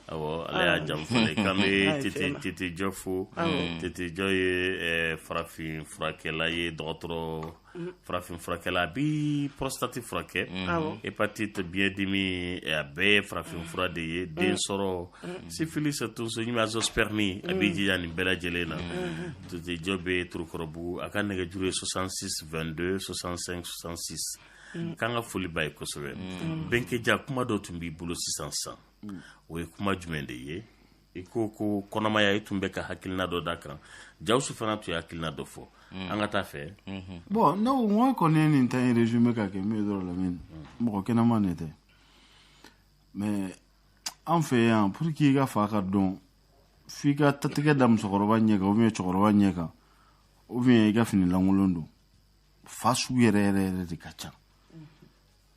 ale y'a jamu tete jɔ fo tete jɔ ye farafin furakɛla ye dɔgɔtɔrɔ farafin furakɛla a bi prostate furakɛ hépatite biɲɛ dimi a bɛɛ ye farafin fura de ye den sɔrɔ syphilis tonso ɲimi azoospermie a b'i jija nin bɛɛ lajɛlen na tete jɔ bɛ turukɔrɔbugu a ka nɛgɛjuru ye 66 22 65 66 mm. k'an ka foli ba ye kosɛbɛ mm. bɛnkɛja kuma dɔ tun b'i bolo sisan san mm. o ye kuma jumɛn de ye i ko ko kɔnɔmaya i tun bɛ ka hakilina dɔ da kan jawusu fana tun ye hakilina dɔ fɔ mm. an ka taa fɛ mm-hmm. bon ne ko ŋo kɔni ye nin tan ye résumé ka kɛ min ye dɔrɔn lamin mɔgɔ kɛnɛman ne tɛ mais an fɛ yan pour que i ka fa ka dɔn f'i ka tatigɛ da musokɔrɔba ɲɛ kan ou bien cɛkɔrɔba ɲɛ kan ou bien i ka fini lankolon don fa sugu yɛrɛ yɛrɛ yɛrɛ de ka ca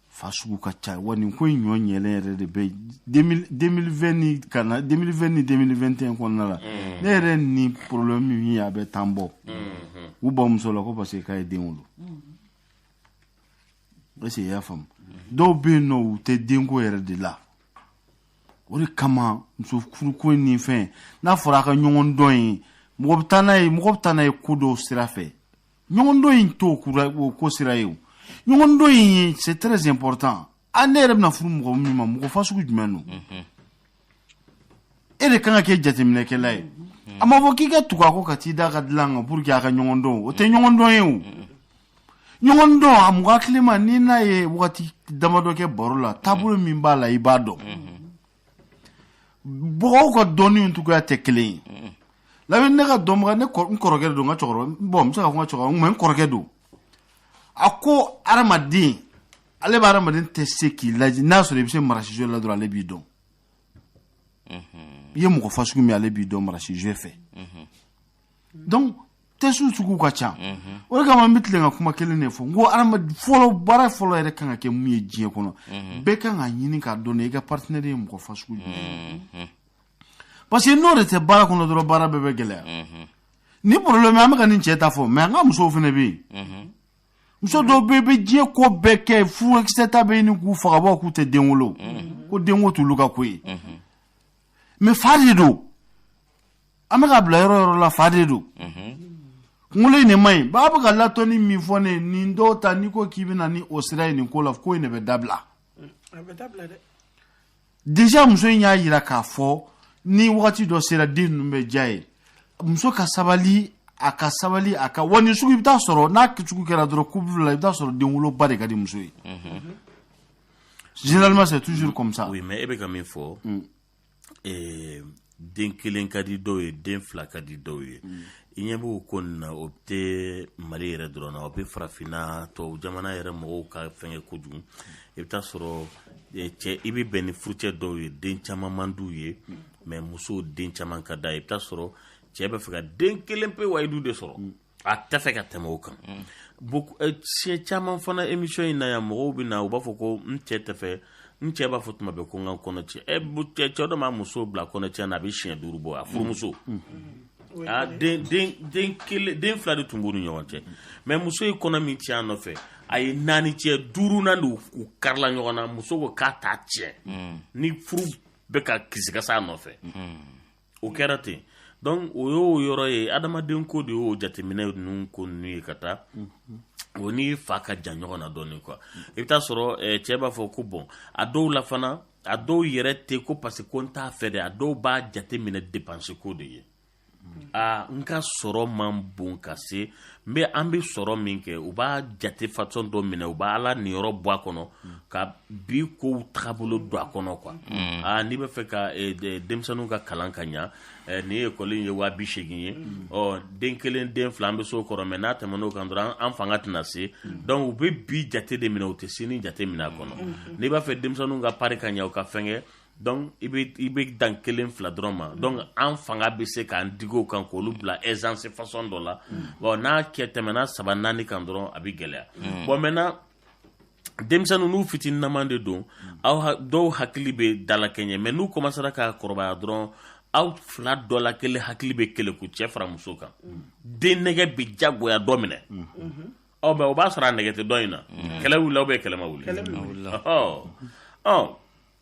fa sugu ka ca wa nin ko in ɲɔ ɲɛlen yɛrɛ de bɛ 2020 ni kana 2020 ni 2021 kɔnɔna la ne yɛrɛ ni problème min ye a bɛ tan bɔ u bamuso la ko parce que k'a ye den wolo est-ce que i y'a faamu dɔw bɛ yen nɔ u tɛ denko yɛrɛ de la o de kama muso furuko in ni fɛn n'a fɔra a ka ɲɔgɔn dɔn ye mɔgɔ bɛ taa n'a ye mɔgɔ bɛ taa n'a ye ko dɔw sira fɛ ɲɔgɔndon in t'o ko sira ye o ɲɔgɔndon in ye c'est très important a ne yɛrɛ bɛna furu mɔgɔ min ma mɔgɔ fasugu jumɛn don e de kan ka kɛ jateminɛkɛla ye a ma fɔ k'i ka tugu a kɔ ka t'i d'a ka dilan kan pour que a ka ɲɔgɔndon o tɛ ɲɔgɔndon ye o ɲɔgɔndon a mɔgɔ hakilima n'i n'a ye wagati damadɔ kɛ baro la taabolo min b'a la i b'a dɔn mɔgɔw ka dɔnni cogoya tɛ kelen ye lamɛn ne ka dɔnbaga ne n kɔrɔkɛ don n ka cɛkɔrɔba bon n bɛ se ka fɔ n ka cɛkɔrɔba mais n kɔrɔkɛ don a ko adamaden ale bɛ adamaden tɛ se k'i lajɛ n'a sɔrɔ i bɛ se marasizo la dɔrɔn ale b'i dɔn i ye mɔgɔ fasugu min ale b'i dɔn marasizo fɛ donc test sugu ka ca o de kama an bɛ tilen ka kuma kelen de fɔ n ko fɔlɔ baara fɔlɔ yɛrɛ kan ka kɛ mun ye diɲɛ kɔnɔ bɛɛ kan ka ɲini k'a dɔn i ka partenaire ye mɔgɔ fa sugu jumɛn parce que n'o de tɛ baara kɔnɔ dɔrɔn baara bɛɛ bɛ gɛlɛya ni bolo la an bɛ ka nin cɛ ta fɔ mais an ka musow fana bɛ yen muso dɔw bɛ bɛ diɲɛ ko bɛɛ kɛ furakisɛ ta bɛ ɲini k'u faga bɔ k'u tɛ den wolo ko denko t'olu ka ko ye mais fa de don an bɛ k'a bila yɔrɔ yɔrɔ la fa de don kunkolo in de man ɲi b'a bɛ ka latɔnni min fɔ ne nin dɔw ta n'i ko k'i bɛna ni o sira ye nin ko la ko in de bɛ dabila déjà muso in y'a yira k'a fɔ ni wagati dɔ sera den ninnu bɛ diya a ye muso ka sabali a ka sabali a ka wa nin sugu i bɛ taa sɔrɔ n'a sugu kɛra dɔrɔn couple la i bɛ taa sɔrɔ denwoloba de ka di muso ye généralement c'est toujours comme ça oui mais e bɛ ka min fɔ eh, den kelen ka di dɔw ye den fila ka di dɔw ye mm. i ɲɛ b'o ko nin na o tɛ Mali yɛrɛ dɔrɔn na o bɛ farafinna tubabu jamana yɛrɛ mɔgɔw ka fɛngɛ kojugu mm. i bɛ taa sɔrɔ eh, cɛ i bɛ bɛn ni furucɛ dɔw ye den caman man d'u ye mm. mais musow den caman ka d'a ye i bɛ taa sɔrɔ cɛ b'a fɛ ka den kelen pe wayidu de sɔrɔ mm. a tɛ fɛ ka tɛmɛ o kan eh, siɲɛ caman fana émission in na yan mɔgɔw bɛ na u b'a fɔ ko n cɛ tɛ fɛ n cɛ b'a fɔ tuma bɛɛ ko n ka kɔnɔ tiɲɛ eh, ɛ cɛ dɔ m'a muso bila kɔnɔ tiɲɛ na a bɛ siɲɛ duuru bɔ a furumuso ah, den fila de tun b'u ni ɲɔgɔn cɛ mais muso ye kɔnɔ min tiɲɛ a nɔfɛ a ye naani tiɲɛ duurunan de u karila ɲɔgɔn na muso ko k'a t'a tiɲɛ ni furu bɛ ka kisikasa a nɔfɛ o kɛra ten donc o y'o yɔrɔ ye adamaden ko de y'o jateminɛ ninnu ko ninnu ye ka taa o ni fa ka jan ɲɔgɔn na dɔɔnin quoi i bɛ taa sɔrɔ eh, cɛ b'a fɔ ko bon a dɔw la fana a dɔw yɛrɛ tɛ ko parce que ko n t'a fɛ dɛ a dɔw b'a jateminɛ dépense ko de ye aa n ka sɔrɔ man bon ka se n bɛ an bɛ sɔrɔ min kɛ u b'a jate façon dɔ minɛ u b'Ala niyɔrɔ bɔ a kɔnɔ ka bi kow taabolo don a kɔnɔ quoi mm. aa n'i b'a fɛ ka denmisɛnninw ka kalan ka ɲɛ ni école ye waa bi seegin ye mm. ɔ den kelen den fila an bɛ s'o kɔrɔ mais n'a tɛmɛn'o kan dɔrɔn an fanga tɛna se mm. donc u bɛ bi jate de minɛ u tɛ sini jate minɛ a kɔnɔ n'i b'a fɛ denmisɛnninw ka pari ka ɲɛ u ka fɛngɛ Donc i bɛ dan kelen fila dɔrɔn ma donc an fanga bɛ se k'an dig'o kan k'olu bila aisance façon dɔ la n'a tɛmɛna saba naani kan dɔrɔn a bɛ gɛlɛya bon maintenant denmisɛnninw n'u fitinama de don aw dɔw hakili bɛ dalakɛɲɛ mais n'u kɔmansera ka kɔrɔbaya dɔrɔn aw fila dɔ la kelen hakili bɛ keleku cɛ fara muso kan den nɛgɛ bɛ jagoya dɔ minɛ aw mais o b'a sɔrɔ a nɛgɛ tɛ dɔ in na kɛlɛ aw bɛ kɛlɛ ma wuli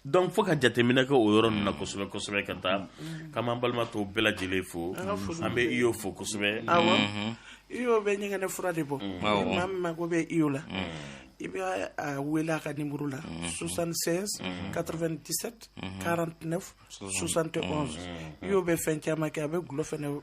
donc fo ka jateminɛ kɛ o yɔrɔ na kosɛbɛ kosɛbɛ ka taa mm-hmm. k'an balima tɔw bɛɛ lajɛlen fo an bɛ Iyo fo kosɛbɛ mm-hmm. Iyo bɛ ɲɛgɛnɛ fura de bɔ mm. maa min mago bɛ Iyo la mm. i bɛ a wele a ka nimero la 76 97 49 71 Iyo bɛ fɛn caman kɛ a bɛ gulɔ fɛnɛ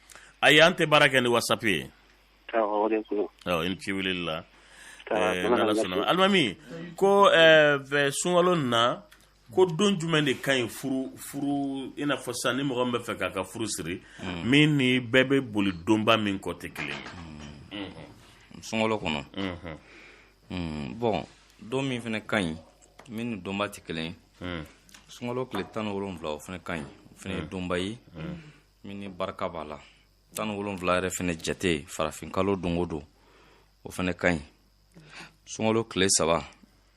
ayi an tɛ baara kɛ ni wasapu ye i ni ci weleli la alimami ko sunkalo na ko don jumɛn de ka ɲi furu i n'a fɔ sisan ni mɔgɔ min bɛ fɛ k'a ka furu siri min ni bɛɛ bɛ boli donba min kɔ tɛ kelen ye sunkalo kɔnɔ bon don min fana ka ɲi min ni donba tɛ kelen ye sunkalo tile tan ni wolonwula o fana ka ɲi o fana ye donba ye min ni barika b'a la tan ni wolonwula yɛrɛ fɛnɛ jate farafinkalo don o don o fɛnɛ ka ɲi sunkalo tile saba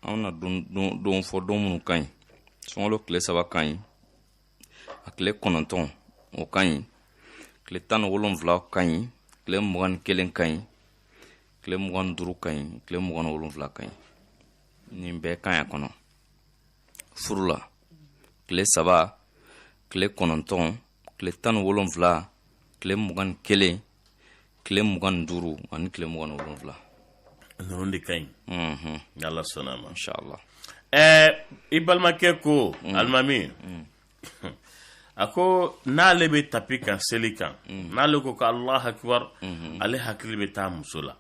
an na don fɔ don minnu ka ɲi sunkalo tile saba ka ɲi a tile kɔnɔntɔn o ka ɲi tile tan ni wolonwula ka ɲi tile mugan ni kelen ka ɲi tile mugan ni duuru ka ɲi tile mugan ni wolonwula ka ɲi nin bɛɛ ka ɲi a kɔnɔ furu la tile saba tile kɔnɔntɔn tile tan ni wolonfila tile mugan ni kelen tile mugan ni duuru ani tile mugan ni wolonfila ninnu de ka ɲi mhm. ni ala sɔnna a ma inshallah ɛɛ eh, i balimakɛ ko mm. alimami mm. a ko n'ale bɛ tapi kan seli kan mm. n'ale ko ko alahu akibar mm-hmm. ale hakili bɛ taa muso la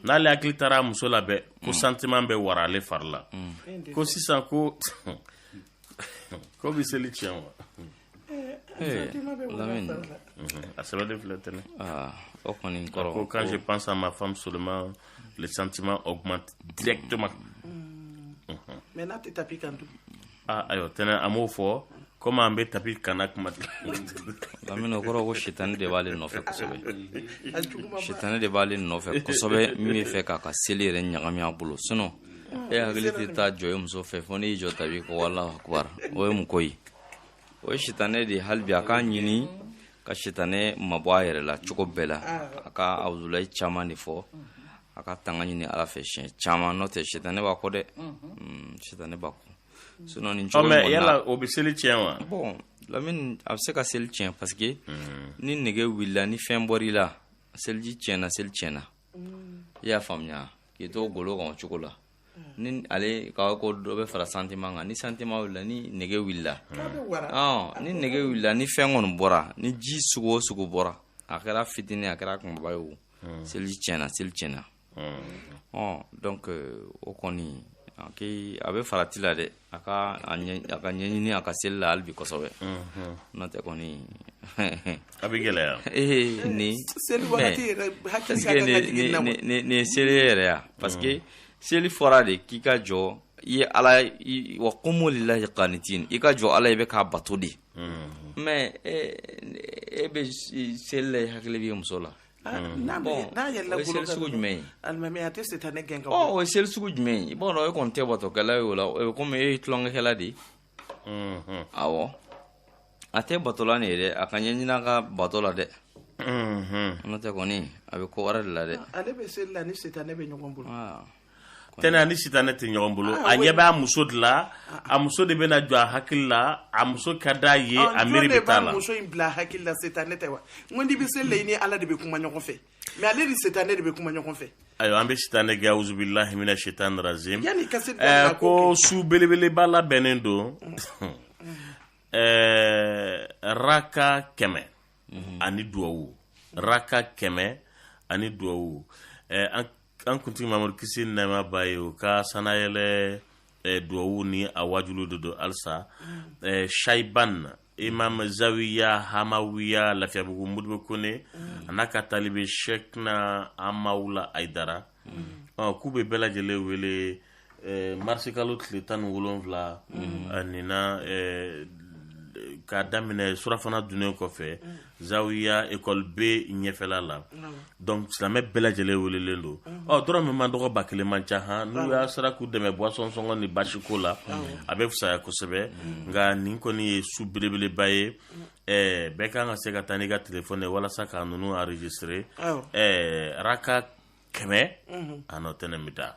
n'ale hakili taara muso la bɛɛ ko sentiment bɛ wara ale fari la ko sisan ko k'o bɛ seli tiɲɛ wa a sɛbɛnlen filɛ tɛnɛ o kɔni kɔrɔ ko quand je pense à ma femme seulement le sentiment augmente directement mais n'a tɛ tapi kan dun aa ayiwa tɛnɛ an m'o fɔ komi an bɛ tapi kana kuma lamini o kɔrɔ ko sitani de b'ale nɔfɛ kosɛbɛ sitani de b'ale nɔfɛ kosɛbɛ min bɛ fɛ k'a ka seli yɛrɛ ɲagami a bolo sinon e hakili tɛ taa jɔ i muso fɛ fo n'i jɔ tapi ko alahu akubar o ye mun ko ye o ye sitanɛ de ye hali bi a k'a ɲini ka sitanɛ mabɔ a yɛrɛ la cogo bɛɛ la a ka awuzulayi caman de fɔ a ka tanga ɲini ala fɛ siɲɛ caman n'o tɛ sitanɛ b'a kɔ dɛ mm, sitanɛ b'a kɔ sinon nin cogo mais yala o bɛ seli tiɲɛ wa bon lamini a bɛ se ka seli tiɲɛ parce que mm. ni nege wulila ni fɛn bɔr'i la seliji tiɲɛna seli tiɲɛna mm. i y'a faamuya k'i to golo kan o cogo la ni ale ka ko dɔ bɛ fara sentiment kan ni sentiment wulila ni nege wulila ni nege wulila ni fɛn kɔni bɔra ni ji sugu o sugu bɔra a kɛra fitinin a kɛra kunbaba ye o hmm. seliji tiɲɛna seli tiɲɛna ɔ donc euh, o kɔni a bɛ farati la dɛ a ka a ka ɲɛɲini a ka seli la hali bi kosɛbɛ n'o tɛ kɔni a bɛ gɛlɛya ee nin seli wagati yɛrɛ hakili ka kan ka jigin na nin ye seli yɛrɛ ya parce que seli fɔra de k'i ka jɔ i ye ala wa qumu lillahi qanitin i ka jɔ ala i bɛ k'a bato de mais e e bɛ seli la i hakili b'i muso la Ah, n'a bɛ Bon, n'a yɛlɛla o ye bolo seli kan sugu dɔrɔn, jumɛn ye? alimami a tɛ sitanɛ gɛn ka bɔ o ye seli sugu jumɛn ye i b'a dɔn e kɔni tɛ batokɛla ye o la o bɛ komi e ye tulonkɛkɛla de ye Mhm. awɔ a tɛ batola nin ye dɛ a ka ɲɛɲini a ka bato la dɛ Mhm. n'o tɛ kɔni a bɛ ko wɛrɛ de la dɛ ale bɛ seli la ni sitanɛ bɛ ɲɔgɔn bolo Aa, tɛnɛ ani sitanɛ tɛ ɲɔgɔn bolo ah, a ɲɛ b'a muso de la a muso de bɛna jɔ a hakili la a muso ka d'a ye ah, a miiri bɛ t'a la muso in bila hakili la sitanɛ tɛ wa n ko n'i bɛ seli la i ni ala de bɛ kuma ɲɔgɔn fɛ mais ale ni sitanɛ de bɛ kuma ɲɔgɔn fɛ ayiwa an bɛ sitanɛ gɛn awuzubilahi mina sitan razim yanni ka se ɛɛ eh, ko su belebeleba labɛnnen don mm. Mm. Eh, raka kɛmɛ mm-hmm. ani duwawu raka kɛmɛ ani duwawu eh, an an kuntigi mamadu kisi ni nɛɛma b'a ye o ka sanyɛlɛ duwawu ni a wajuli de don alisa shayiban imamu zawiya hamawiya lafiyabugu modibo kone a n'a ka talibe sɛkina hamawula ayidara k'u bɛ bɛɛ lajɛlen wele eh, marisi kalo tile tan ni wolonwula mm. a nina eh, k'a daminɛ surafana dunnen kɔfɛ mm. zawiya ekɔli be ɲɛfɛla la mm. donc silamɛ bɛɛ lajɛlen welelen don ɔ dɔrɔmɛ man dɔgɔ ba kelen man ca han ni aw sera k'u dɛmɛ boisson sɔngɔ ni basiko la a bɛ fisaya kosɛbɛ nka nin kɔni ye su belebeleba ye eh, bɛɛ kan ka se ka taa n'i ka telefɔni ye walasa k'a ninnu enregistrer eh, raka kɛmɛ a nɔ tɛnɛ bɛ taa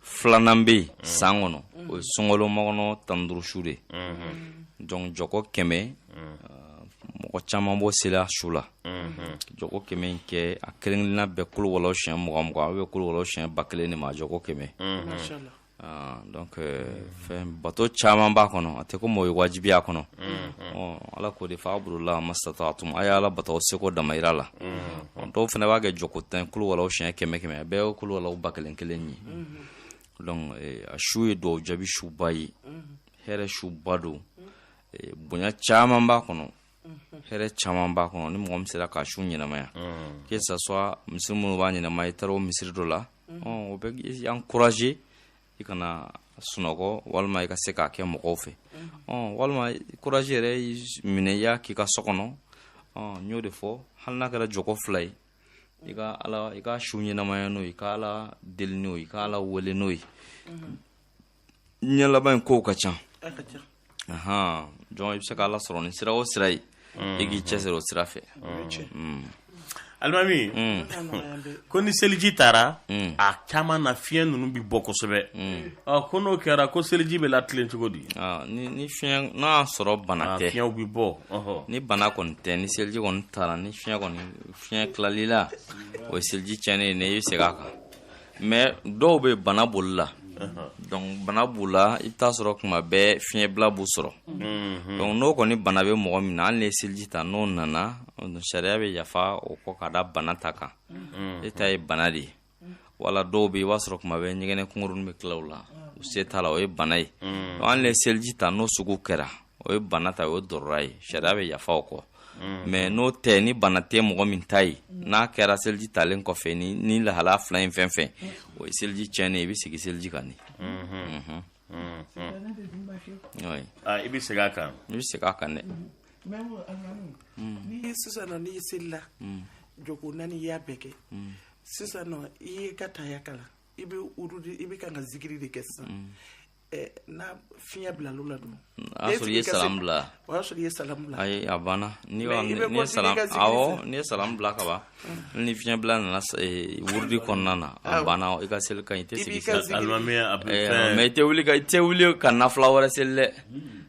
filanan bɛ yen mm. san kɔnɔ o ye sunkalo makɔnɔ tan ni duuru su de mm-hmm. donc jɔkɔ kɛmɛ mm. uh, mɔgɔ caman b'o seli a su la mm-hmm. jɔkɔ kɛmɛ in kɛ a kelen kelenna bɛɛ kuluwala siɲɛ mugan mugan a bɛ kuluwala siɲɛ ba kelen de ma a jɔkɔ kɛmɛ mm-hmm. uh, donc euh, fɛn bato caman b'a kɔnɔ a tɛ ko mɔgɔ ye wajibiya kɔnɔ ala ko de faabudula masitatatum a ye ala bato seko damayira la dɔw fana b'a kɛ jɔko tan kuluwala siɲɛ kɛmɛ kɛmɛ a bɛɛ kuluwala ba kelen kelen ye donc eh, a su ye duwawu jaabi suba ye hɛrɛ suba don eh, bonya caman b'a kɔnɔ hɛrɛ caman b'a kɔnɔ ni mɔgɔ min sera k'a su ɲɛnamaya que ça soit misiri minnu b'a ɲɛnamaya i taara o misiri dɔ la o bɛ encourager i kana sunɔgɔ walima i ka se k'a kɛ mɔgɔw fɛ mhm. walima kuraji yɛrɛ minɛ i y'a k'i ka so kɔnɔ n y'o de fɔ hali n'a kɛra jɔkɔ fila ye i ka ala i ka su ɲɛnamaya n'o ye i ka ala deli n'o ye i ka ala wele n'o ye mhm. ɲɛ laban in kow ka ca jɔn i bɛ se k' ala sɔrɔ ni sira o sira ye i k'i cɛsiri o sira fɛ alimami ko ni seliji tara a caman na fiɲɛ ninnu bɛ bɔ kosɛbɛ ko n'o kɛra ko seliji bɛ latilen cogo di ni fiɲɛ n'a y'a sɔrɔ bana tɛ fiɲɛw bɛ bɔ ni bana kɔni tɛ ni seliji kɔni tara ni fiɲɛ kɔni fiɲɛ tilal'i la o ye seliji cɛnnen ye i bɛ segin a kan mais dɔw bɛ bana boli la donc bana b'u la i bɛ taa sɔrɔ kuma bɛɛ fiɲɛbila b'u sɔrɔ mhm. donc n'o kɔni bana bɛ mɔgɔ min na hali n'i ye seliji ta n'o nana sariya bɛ yafa o kɔ ka da bana ta kan mhm. e ta ye bana de ye wala dɔw bɛ i b'a sɔrɔ kuma bɛɛ ɲɛgɛnɛ kunkuruni bɛ tila u la u se t'a la o ye bana ye mhm. hali n'i ye seliji ta n'o sugu kɛra o ye bana ta o ye dɔrɔra ye sariya bɛ yafa o kɔ mm. mais n'o tɛ ni bana tɛ mɔgɔ min ta ye mm. n'a kɛra seliji talen kɔfɛ ni, ni lahala fila in fɛn fɛn mm. o ye seliji tiɲɛnen i bɛ segin seliji kan de mm -hmm. mm -hmm. mm -hmm. oui. ah, i bɛ segin a kan i bɛ segin a kan dɛ mm. ni sisan nɔ n'i selila mm. jɔko naani i y'a bɛɛ kɛ mm. sisan nɔ i y'i ka taya kalan i bɛ wurudi i bɛ kan ka zikiri de kɛ sisan mm. n'a fiɲɛ bilala dun o y'a sɔrɔ i ye salam bila o y'a sɔrɔ i ye salam bila ayi a banna n'i ye salam awɔ n'i ye salam bila ka ban mm. ni fiɲɛ bila nana wurudi kɔnɔna na a banna i ka seli ka ɲi i tɛ segin alimami mais i tɛ wuli ka i tɛ wuli ka nafila wɛrɛ seli dɛ mm.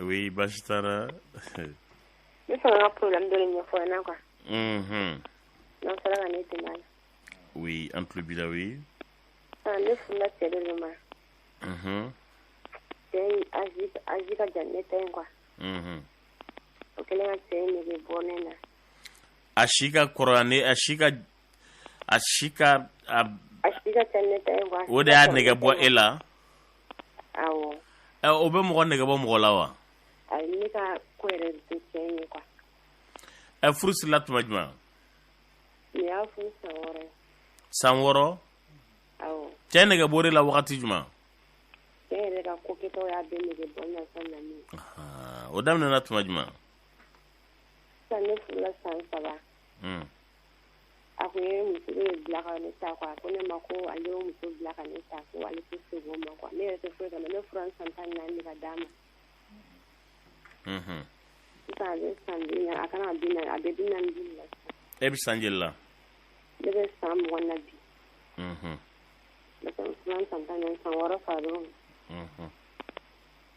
Oui baasi t'a la ne fana ka problème dɔ de ɲɛfɔ na quoi n'aw sera ka ne dɛmɛ a la oui an tulo b'i la oui ne furula cɛ de ma cɛ âge ka jan ne ta in quoi o kɛlen ka cɛ in nege bɔ ne na a si ka kɔrɔ ne a si ka a si ka o de y'a nege bɔ e la o bɛ mɔgɔ nege bɔ mɔgɔ la wa ɛ furu sirila tuma jumɛn san wɔɔrɔ cɛ nege bɔr'i la wagati jumɛn o daminɛna tuma jumɛn A ko ye muso ye bila ka ne ta quoi a ko ne ma ko ale ye muso bila ka ne ta ko ale tɛ se o ma quoi ne yɛrɛ foyi ka ne fura san tan ni naani ka d'a ma ale san a kana a bɛ bi naani la e bɛ san joli la ne bɛ san mugan na bi ne fura san tan ni naani san wɔɔrɔ fa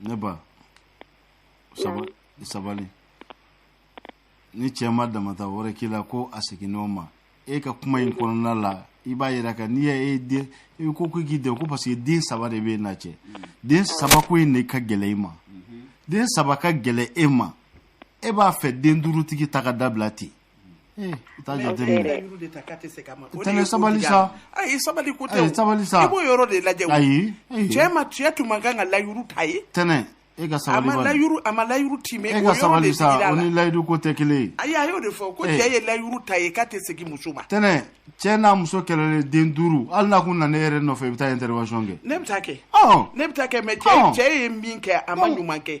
ne ba sabali ni cɛ ma damata wɛrɛ k'i la ko a seginn'o ma e ka kuma in kɔnɔna la i b'a yira ka n'i y'a e den i e ko ko k'i den ko parce que den saba de b'i n'a cɛ den saba ko in de ka gɛlɛ i ma den saba ka gɛlɛ e ma e b'a fɛ den duurutigi ta ka dabila ten Eh, i t'a jateminɛ dɛ. Olu de ta k'a tɛ se ka ma. O de ye Tɛnɛ sabali kojugu sa. ya. Ayi sabali ko tɛ o. Ayi, sabali sa. I b'o yɔrɔ de lajɛ o. Ayi, ayi. Cɛ ma cɛ tun man kan ka layuru t'a ye. tɛnɛ e ka A sabali ma bani layuru a ma layuru tiimɛ e o ka yɔrɔ de sabali digira sa a o la. ni layidu ko tɛ kelen ye Ayi a y'o de fɔ ko Eh. cɛ ye layuru t'a ye k'a tɛ segin muso ma. tɛnɛ cɛ n'a muso kɛlɛlen den duuru hali n'a kun nana e yɛrɛ nɔfɛ i bɛ taa intervention kɛ Ne bɛ taa kɛ. Ɔn. Ne bɛ taa kɛ mais cɛ Ɔn. cɛ ye min kɛ a ma Ɔn. ɲuman kɛ.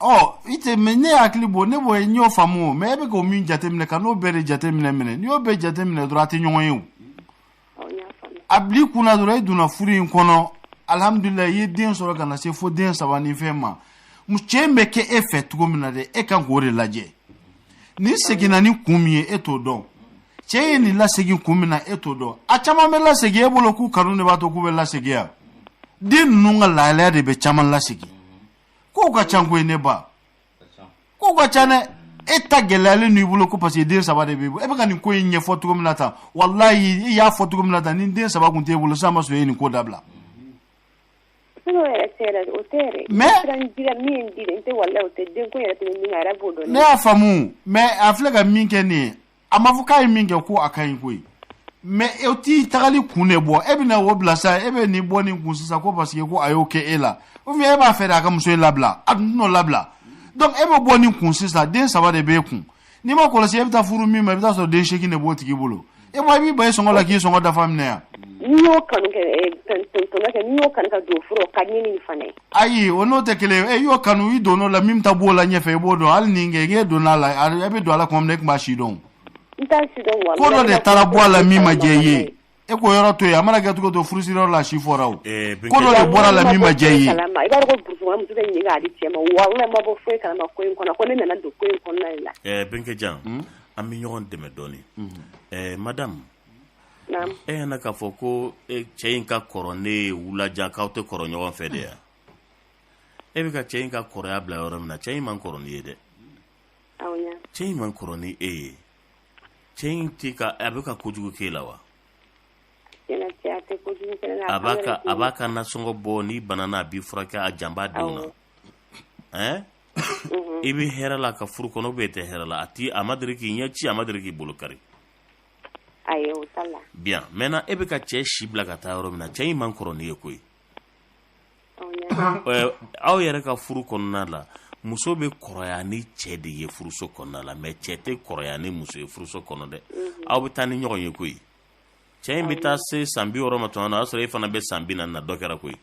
ɔ i tɛ mais ne hakili bɔ ne bɔ n y'o faamu o mais e bɛ k'o min jateminɛ kan'o bɛɛ de jateminɛ n'i y'o bɛɛ jateminɛ dɔrɔn a tɛ ɲɔgɔn ye o a bil'i kun na dɔrɔn e donna furu in kɔnɔ alihamudulila i ye den sɔrɔ ka na se fo den saba ni fɛn ma cɛ in bɛ kɛ e fɛ cogo min na dɛ e kan k'o de lajɛ nin seginna ni kun min ye e t'o dɔn cɛ ye nin lasegin kun min na e t'o dɔn a caman bɛ lasegin e bolo k'u kanu de b'a to k'u bɛ lasegin yan den ninnu ka lahalaya de bɛ caman lasegin kow ka ca koyi ne ba kow ka ca dɛ e ta gɛlɛyalen n'i bolo ko parce que den saba de b'i bolo e bɛ ka nin ko in ɲɛfɔ cogo min na tan walayi i y'a fɔ cogo min na tan ni den saba tun t'e bolo sisan ma sɔrɔ e ye nin ko dabila. ne y'a faamu mais a filɛ ka min kɛ nin ye a ma fɔ k'a ye min kɛ ko a ka ɲi koyi mais e t'i tagali kun de bɔ e bɛna o bila sa e bɛ nin bɔ nin kun sisan ko parce que ko a y'o kɛ e la ou bien e b'a fɛ de a ka muso in labila a dun t'o labila donc e bɛ bɔ nin kun sisan den saba de b'e kun n'i m'a kɔlɔsi e bɛ taa furu min ma i bɛ taa sɔrɔ den seegin de b'o tigi bolo e bɔ i b'i ban i sɔngɔ la k'i sɔngɔ dafa minɛ yan. n'i y'o kanu kɛ ɛ tɔnɔ kɛ n'i y'o kanu ka don furu ka ɲini fana ye. ayi o n'o tɛ kelen ye e y'o kanu i donn'o la min ta b'o la ɲɛfɛ i b'o dɔn hali ni kɛ k'e donna a la e bɛ don a la kuma min na e tun b'a si dɔn ko dɔ de taara bɔ a la min ma diya i ye e k'o yɔrɔ to yen a mana kɛ cogo to furusiriyɔrɔ la a si fɔra o eh, ko dɔ de bɔra a la min ma diya i ye eh, benkɛ jan hmm? an bɛ ɲɔgɔn dɛmɛ dɔɔnin eh, madamu E nana k'a fɔ ko cɛ in ka kɔrɔ n'e ye wulajan k'aw tɛ kɔrɔ ɲɔgɔn fɛ de yan e bɛ ka cɛ in ka kɔrɔya bila yɔrɔ min na cɛ in man kɔrɔ n'i ye dɛ cɛ in man kɔrɔ ni e ye cɛ in a bɛ ka kojugu k'e la wa a b'a ka nasɔngɔ bɔ n'i banana a b'i furakɛ a jan b'a denw na ɛɛ i bɛ hɛrɛ la ka furu kɔnɔ ou bien e tɛ hɛrɛ la a a ma deli k'i ɲɛ ci a ma deli k'i bolo kari ayi o t'a la bien maintenant e bɛ ka cɛ si bila ka taa yɔrɔ min na cɛ in man kɔrɔ n'i ye koyi euh, aw yɛrɛ ka furu kɔnɔna la muso bɛ kɔrɔya ni cɛ de ye furuso kɔnɔna la mais cɛ tɛ kɔrɔya ni muso ye furuso kɔnɔ dɛ mhm. aw bɛ taa ni ɲɔgɔn ye koyi cɛ in bɛ taa se san bi wɔɔrɔ ma tuma na o y'a sɔrɔ e fana bɛ san bi naani na dɔ kɛra koyi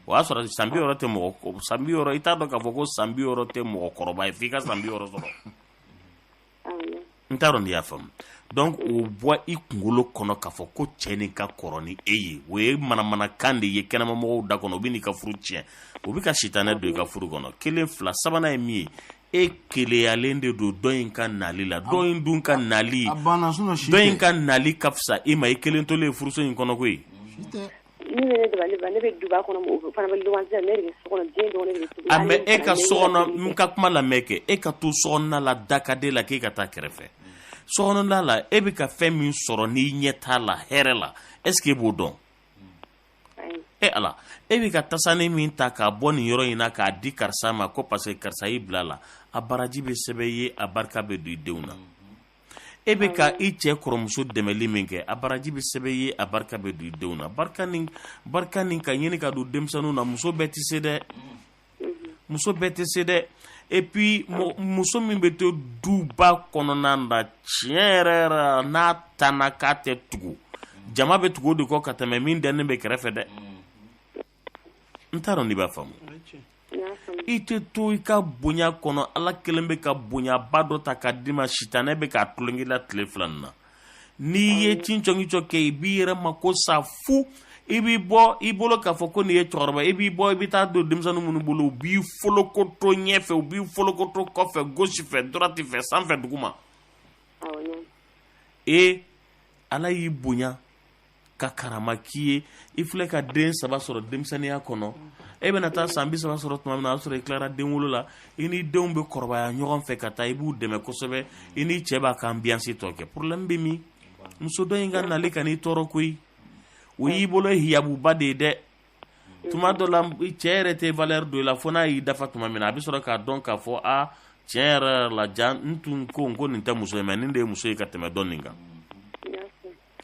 o y'a sɔrɔ san bi wɔɔrɔ tɛ mɔgɔ san bi wɔɔrɔ i t'a dɔn k'a fɔ ko san bi wɔɔrɔ tɛ mɔgɔkɔrɔba ye f'i ka san bi wɔɔrɔ sɔrɔ n t'a dɔn n'i y'a faamu donc o bɔ i kunkolo kɔnɔ k'a fɔ ko cɛ nin ka kɔrɔ ni e ye o ye manamanakan de ye kɛnɛmamɔgɔw da kɔnɔ o bɛ n'i ka furu tiɲɛ o bɛ ka sitanɛ don i ka furu kɔnɔ kelen fila sabanan ye min ye e keleyalen de don dɔ in ka nali la dɔ in dun ka nali dɔ in ka nali ka fisa e ma i kelen tolen furuso in kɔnɔ koyi a mais e ka so kɔnɔ n ka kuma lamɛn kɛ e ka to so kɔnɔna la da ka d'e la k'e ka taa kɛrɛfɛ so kɔnɔna la e bɛ ka fɛn min sɔrɔ n'i ɲɛ t'a la hɛrɛ la est ce que e b'o dɔn e ala e bɛ ka tasani min ta k'a bɔ nin yɔrɔ in na k'a di karisa ma ko parce que karisa y'i bila a la a baraji bɛ sɛbɛn i ye a barika bɛ don i denw na. e bɛ ka i cɛ kɔrɔmuso dɛmɛli min kɛ a baraji bɛ sɛbɛn i ye a barika bɛ don i denw na barika nin barika nin ka ɲini ka don denmisɛnninw na muso bɛɛ tɛ se dɛ muso bɛɛ tɛ se dɛ et puis muso min bɛ to duba kɔnɔna na tiɲɛ yɛrɛ yɛrɛ n'a tanna k'a tɛ tugu jama bɛ tugu o de kɔ ka tɛmɛ min dɛnnen bɛ kɛrɛfɛ dɛ n t'a dɔn n'i b'a faamu i tɛ to i ka bonya kɔnɔ ala kelen bɛ ka bonyaba dɔ ta k'a d'i ma sitanɛ bɛ k'a tulon k'i la tile fila nin na n'i ye cincɔngicɔ kɛ i b'i yɛrɛ mako sa fu i b'i bɔ i bolo k'a fɔ ko nin ye cɛkɔrɔba i b'i bɔ i bɛ taa don denmisɛnnin minnu bolo u b'i folokoto ɲɛfɛ u b'i folokoto kɔfɛ gauche fɛ droite fɛ sanfɛ duguma ee ala y'i bonya ka karama k'i ye i filɛ ka den saba sɔrɔ denmisɛnninya kɔnɔ e bɛna taa san bi saba sɔrɔ tuma min na o y'a sɔrɔ i tilara den wolo la i ni denw bɛ kɔrɔbaya ɲɔgɔn fɛ ka taa i b'u dɛmɛ kosɛbɛ i ni cɛ b'a ka ambiance tɔ kɛ problème bɛ min muso dɔ in ka nali ka n'i tɔɔrɔ koyi o y'i bolo hijabuba de ye dɛ tuma dɔ la cɛ yɛrɛ tɛ valeur don i la fo n'a y'i dafa tuma min na a bɛ sɔrɔ k'a dɔn k'a fɔ a tiɲɛ yɛrɛ yɛrɛ la jaa n tun ko n ko nin tɛ muso ye mais nin de ye muso ye ka tɛmɛ dɔ nin kan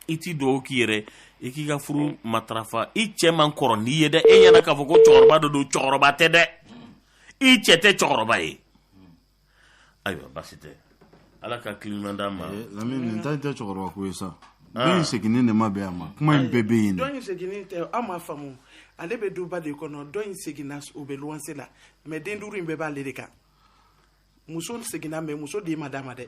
i tɛ dugawu k'i yɛrɛ ye k'i ka furu matarafa i cɛ man kɔrɔ n'i ye dɛ e ɲɛna k'a fɔ ko cɛkɔrɔba dɔ don cɛkɔrɔba tɛ dɛ i cɛ tɛ cɛkɔrɔba ye ayiwa basi tɛ ala ka kiliman d'a ma eh, lamini nin ta tɛ cɛkɔrɔba ko ye sa ah. dɔ in seginni de ma bɛn a ma kuma in bɛɛ bɛ yen dɔ in seginni tɛ an m'a faamu ale bɛ duba de kɔnɔ dɔ in seginna o bɛ luwanse la mais den duuru in bɛɛ b'ale de kan muso seginna mais muso den ma d'a ma dɛ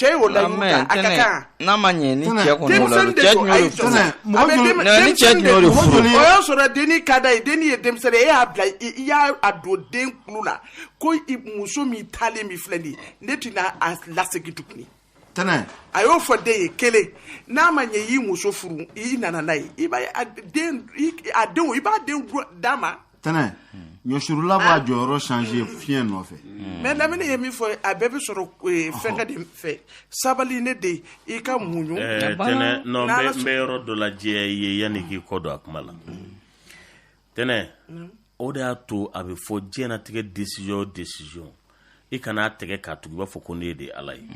cɛ ye o layiru ta a ka kan n'a ma ɲɛ ni cɛ kɔni o la cɛ tun y'o de furu ni cɛ tun y'o de furu o y'a sɔrɔ denni ka d'a ye denni ye denmisɛnnin e y'a bila i y'a a don den kulu la ko muso min taalen min filɛ nin ye ne tɛna a lasegin tuguni tɛnɛ a y'o fɔ den ye kelen n'a ma ɲɛ i y'i muso furu i nana n'a ye i b'a ye a den a denw i b'a denw d'a ma tɛnɛ ɲɔsurula b'a jɔyɔrɔ changer fiɲɛ nɔfɛ mais lamini ye min fɔ a bɛɛ bɛ sɔrɔ eh, fɛnkɛ de fɛ sabali ne den i ka muɲu Eh, tɛnɛ non n N'Ala bɛ- n bɛ yɔrɔ dɔ lajɛya i ye yanni k'i kɔ don a kuma la tɛnɛ o de y'a to a bɛ fɔ diɲɛnatigɛ décision o décision i kana tɛgɛ k'a tugu i b'a fɔ ko ne de ye ala ye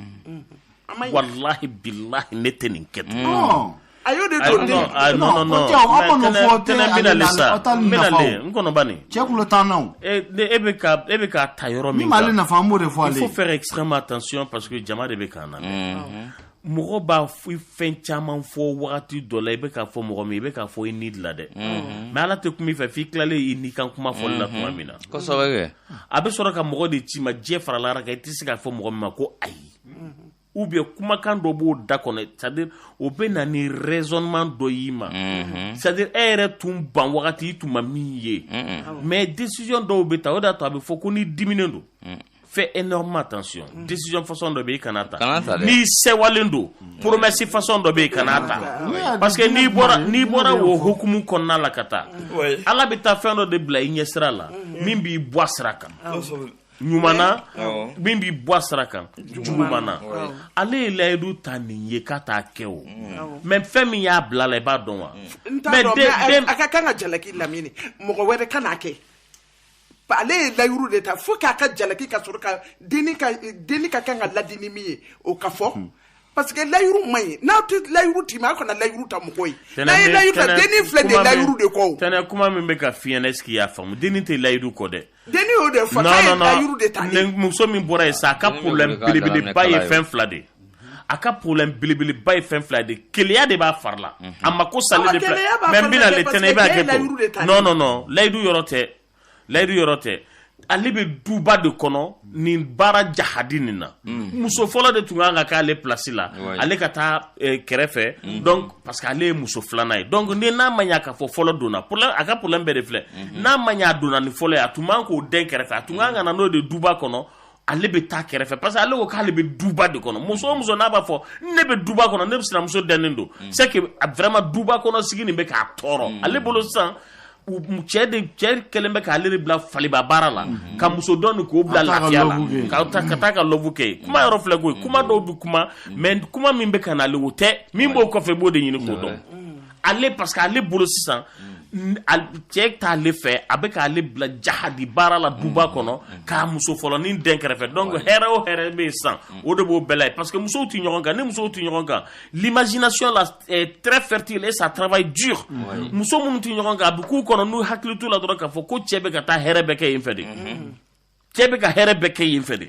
walahi bilahi ne tɛ nin kɛ tun a y'o de don den non non non tɛnɛ bɛna le sa bɛna le n kɔnɔba nin cɛ kulo tan na e bɛ ka e bɛ ka ta yɔrɔ min kan min b'ale nafa an b'o de fɔ ale il faut faire extrêmement attention parce que jama de bɛ k'an lamɛn mɔgɔ b'a fɛn caman fɔ wagati dɔ la i bɛ k'a fɔ mɔgɔ min i bɛ k'a fɔ i ni de la dɛ mhm. mais ala tɛ kuma i fɛ f'i tilalen i ni kan kuma fɔli la tuma mhm. min na a bɛ sɔrɔ ka mɔgɔ de ci ma diɲɛ faralara kan i tɛ se k'a fɔ mɔgɔ min ma ko ayi mhm. ou bien kumakan dɔ b'o da kɔnɔ c'est-à-dire o bɛ na ni raisonnement dɔ y'i ma c'est-à-dire e yɛrɛ tun ban wagati i tun ma min ye mais décision dɔw bɛ ta o de y'a to a bɛ fɔ ko ni diminen don fais énormément attention mm. décision façon dɔ bɛ i kana ta n'i sewalen don mm. promesse façon dɔ bɛ i kana ta mm. parce que n'i bɔra n'i bɔra o hukumu kɔnɔna la ka taa ala bɛ taa fɛn dɔ de bila i ɲɛsira la min b'i bɔ a sira kan ɲuman na min b'i bɔ a sira kan juguman na ale ye layidu ta nin ye k'a t'a kɛ o mais fɛn min y'a bila la i b'a dɔn wa mais a ka kan ka jalaki lamini mɔgɔ wɛrɛ kan'a kɛ ale ye layiru de ta fo k'a ka jalaki ka sɔrɔ ka denni ka denni ka kan ka ladi ni min ye o ka fɔ hmm. parce que layiru man ɲi n'aw tɛ layiru t'i ma aw kana layiru ta mɔgɔ ye n'a ye layiru ta denni filɛ nin ye layiru de kɔ o tɛnɛ kuma min bɛ ka f'i ɲɛna est-ce que i y'a faamu denni tɛ layiru kɔ dɛ denni y'o de fɔ k'a ye layiru de ta muso min bɔra yen sa a ka problème belebeleba ye fɛn fila de ye a ka problème belebeleba ye fɛn fila de keleya de b'a fari la mhm. a ma ko sali de fila mais n bɛna le tɛnɛ i b'a kɛ ko non non non layidu yɔrɔ tɛ layidu yɔrɔ tɛ ale bɛ duba de kɔnɔ nin baara jahadi nin na mhm. muso fɔlɔ de tun kan ka k'ale place la ale ka taa eh, kɛrɛfɛ mhm. donc parce que ale ye muso filanan ye donc ni n'a ma ɲa k'a fɔ fɔlɔ donna problème a ka problème bɛɛ de filɛ n'a ma ɲa a donna ni fɔlɔ ye a tun man k'o den kɛrɛfɛ a tun kan ka na n'o de duba kɔnɔ ale bɛ taa kɛrɛfɛ parce que ale ko k'ale bɛ duba de kɔnɔ muso o muso n'a b'a fɔ ne bɛ duba kɔnɔ ne bɛ sinamuso dɛnen don mm. c'est que vraiment duba kɔnɔ sigi nin bɛ k'a tɔɔrɔ mm. ale bolo sisan cɛ de cɛ kɛlen bɛ k'ale de bila faliba baara la mm-hmm. ka muso dɔ nin k'o bila lafiya la ka taa ka taa ka lɔbu kɛ mm. kuma yɔrɔ filɛ koyi kuma dɔw bɛ kuma mais kuma min bɛ ka na ale o tɛ min b'o kɔfɛ i b'o de ɲini k'o dɔn ale parce que ale bolo sisan cɛ t'ale fɛ a bɛ k'ale bila jahadi baara la duba kɔnɔ k'a muso fɔlɔ ni den kɛrɛfɛ donc hɛrɛ o hɛrɛ bɛ yen sisan o de b'o bɛɛ la ye parce que musow tɛ ɲɔgɔn kan ni musow tɛ ɲɔgɔn kan l'imagination là est très fertile et ça travaille dur muso minnu tɛ ɲɔgɔn kan a bɛ k'u kɔnɔ n'u hakili t'u la dɔrɔn k'a fɔ ko cɛ bɛ ka taa hɛrɛ bɛɛ kɛ yen fɛ de cɛ bɛ ka hɛrɛ bɛɛ kɛ yen fɛ de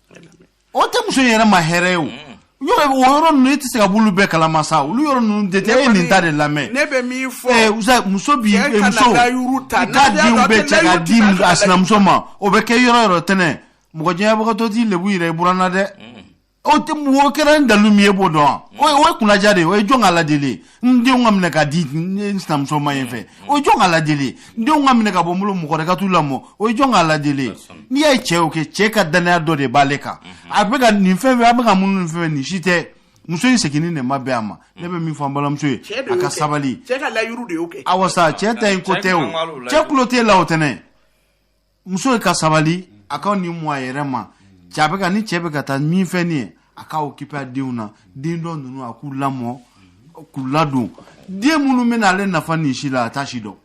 o tɛ muso yɛrɛ ma hɛrɛ ye o mm. yɔrɔ o yɔrɔ ninnu e tɛ se ka b'olu bɛɛ kalama sa olu yɔrɔ ninnu de tɛ e ye nin ta de lamɛn ne bɛ min fɔ ɛɛ eh, muso bi eh, muso i ka denw bɛɛ cɛ k'a di a sinamuso ma o bɛ kɛ yɔrɔ yɔrɔ tɛnɛ mɔgɔ diyanyebagatɔ t'i lebu yira i buranna dɛ mm. o tɛ o kɛra ni dalu min ye e b'o dɔn wa mm. o ye kunnaja de ye o ye jɔn ka ladili ye n denw ka minɛ ka di n sinamuso ma yen fɛ o ye jɔn ka ladili ye n denw ka minɛ ka bɔ n bolo mɔgɔ wɛrɛ ka t'u lamɔ o ye jɔn ka ladili ye n'i y'a ye cɛ y'o kɛ cɛ ka dannaya dɔ de b'ale kan a bɛ ka nin fɛn fɛn a bɛ ka minnu nin fɛn nin si tɛ muso in seginni de ma bɛn a ma ne bɛ min fɔ an balimamuso ye a ka sabali awa sa cɛ ta in ko tɛ o cɛ tulo t'e la o tɛnɛ muso ye ka sabali a ka nin mɔ a yɛrɛ ma cɛ a bɛ ka ni cɛ bɛ ka taa min fɛn nin ye a ka occuper a denw na den dɔ ninnu a k'u lamɔ k'u ladon den minnu bɛ na ale nafa nin si la a t'a si dɔn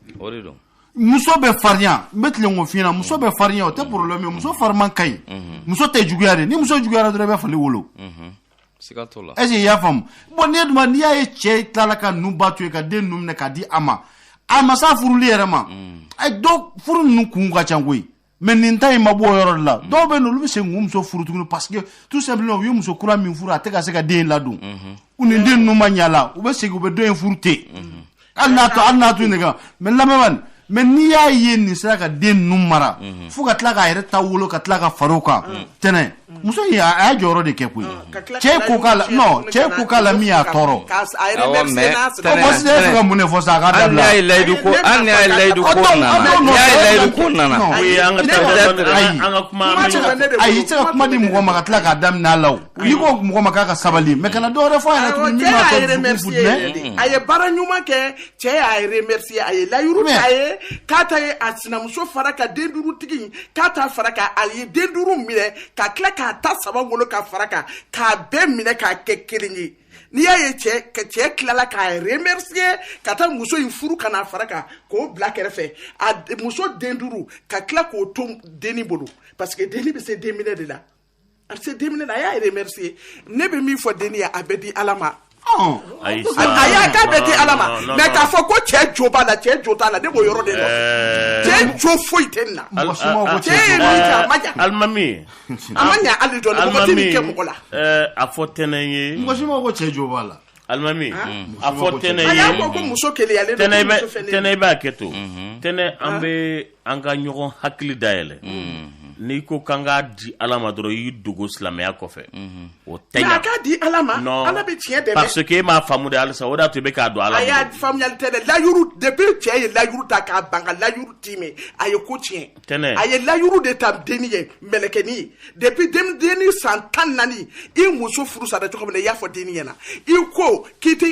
muso bɛ farinya n bɛ tilen k'o f'i ɲɛna muso bɛ farinya o tɛ problème ye muso fariman ka ɲi muso tɛ juguya de ni muso juguyara dɔrɔn i bɛ fali wolo siga t'o la est-ce que i y'a faamu bon n'i duma n'i y'a ye cɛ tilala ka ninnu ba to yen ka den ninnu minɛ k'a di a ma a ma s'a furuli yɛrɛ ma mm. dɔw furu ninnu kun ka ca koyi mais nin ta in ma bɔ o yɔrɔ de la mm. dɔw bɛ yen olu bɛ se k'u muso furu tuguni parce que tout simplement u ye muso kura min furu a tɛ ka se ka den in ladon mm-hmm. u ni den ninnu ma ɲa la u bɛ segin u bɛ dɔ in furu ten mm-hmm. hali n'a to hali n'a to nin kan mais lamɛnbaa nin mais n'i y'a ye nin sera ka den ninnu mara mhm. fo ka tila k'a yɛrɛ ta wolo ka tila ka far'o kan mm. tɛnɛ muso in a y'a jɔyɔrɔ de kɛ koyi mm. cɛ ko k'a la non cɛ ko k'a la min y'a tɔɔrɔ mɔsi de fɛ ka mun de fɔ sa a k'a dabila hali n'a ye layidu ko hali n'a ye layidu ko nana n'i y'a ye layidu ko nana ayi ayi i tɛ se ka kuma di mɔgɔ ma ka tila k'a da minɛ a la o i ko mɔgɔ ma k'a ka sabali mais kana dɔw wɛrɛ fɔ a yɛrɛ tuguni min b'a tɔ dusu yɛrɛ de mm-hmm. a ye baara ɲuman kɛ cɛ y'a remercier a ye layiru ta ye k'a ta ye a sinamuso fara kan den duuru tigi k'a ta fara kan a ye den duuru minɛ ka tila k'a ta saba wolo ka fara kan k'a bɛɛ minɛ k'a kɛ kelen ye n'i y'a ye cɛ ka cɛ tilala k'a remercier ka taa muso in furu ka n'a fara kan k'o bila kɛrɛfɛ a muso den duuru ka tila k'o to denni bolo parce que denni bɛ se den minɛ de la a se denminɛ na a y'a remercier ne bɛ min fɔ denni ye a bɛɛ di ala ma a y'a k'a bɛɛ di ala ma mais k'a fɔ ko cɛ jo b'a la cɛ jo t'a la ne b'o yɔrɔ de dɔn cɛ jo foyi tɛ nin na cɛ ye min kɛ a ma ɲa alimami a ma ɲa hali dɔɔni mɔgɔ tɛ nin kɛ mɔgɔ la a fɔ tɛnɛ ye mɔgɔ si ma ko cɛ jo b'a la alimami a fɔ tɛnɛ ye a y'a fɔ ko muso keleyalen don ko muso fɛlen don tɛnɛ i b'a kɛ to tɛnɛ an bɛ an ka ɲɔgɔn hakili dayɛlɛ n'i ko k'an k'a di ala ma dɔrɔn i y'i dogo silamɛya kɔfɛ o tɛ a k'a di ala ma ala bɛ tiɲɛ dɛmɛ parce que e m'a faamu de halisa o de y'a to i bɛ k'a don ala a y'a faamuyali tɛ dɛ layuru depuis cɛ ye layuru ta k'a ban ka layuru timɛ a ye ko tiɲɛ tɛnɛ a ye layuru de ta denni ye mɛlɛkɛni ye depuis denni san tan naani i muso furu sara cogo min na i y'a fɔ denni ɲɛna i ko k'i tɛ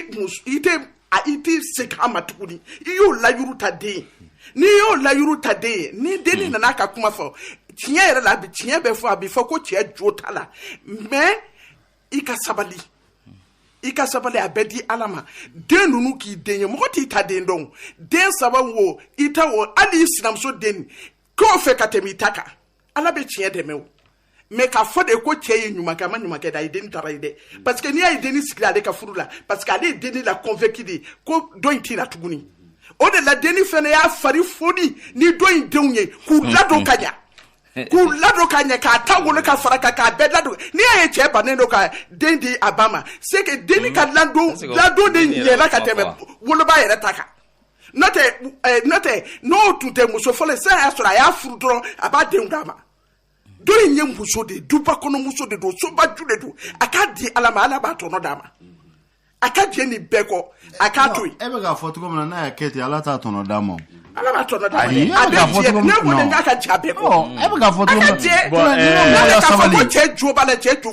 i tɛ a i t'i segin a ma tuguni i y'o layuru ta den ye n'i y'o layuru ta den ye ni denni nana ka kuma fɔ tiɲɛ yɛrɛ la bi tiɲɛ bɛ fɔ a bi fɔ ko cɛ jo t'a la mais i ka sabali i ka sabali a bɛɛ di ala ma den ninnu k'i den ye mɔgɔ t'i ta den dɔn den saba wo i ta wo hali i sinamuso den k'o fɛ ka tɛmɛ i ta kan ala bɛ tiɲɛ dɛmɛ o mais k'a fɔ de ko cɛ ye ɲuman kɛ a ma ɲuman kɛ dɛ a ye denni trahir dɛ parce que n'i y'a ye denni sigila ale ka furu la parce que ale ye denni la convaincu de ko dɔ in t'i la tuguni o de la denni fɛnɛ y'a fari foni ni dɔ in denw ye k'u ladon ka ɲa k'u ladon ka ɲɛ k'a ta wolo ka fara kan k'a bɛɛ ladon n'i y'a ye cɛ bannen don ka den di a ba ma c'est que denni ka ladon ladon de ɲɛla ka tɛmɛ woloba yɛrɛ ta kan n'o tɛ eh, n'o tɛ n'o tun tɛ muso fɔlɔ sisan y'a sɔrɔ a y'a furu dɔrɔn a b'a denw d'a ma dɔ in ye muso de ye duba kɔnɔ muso de don sobaju de don a k'a di ala ma ala b'a tɔnɔ d'a ma a ka jɛ nin bɛɛ kɔ a k'a to yen. e bɛ k'a fɔ cogo min na n'a y'a kɛ ten ala t'a tɔnɔ d'a ma. ala b'a tɔnɔ d'a ma dɛ a bɛ jɛ ne kɔni k'a ka j'a bɛɛ kɔ. e bɛ k'a fɔ cogo min na a ka jɛ ne bɛ k'a fɔ ko cɛ jo b'a la cɛ jo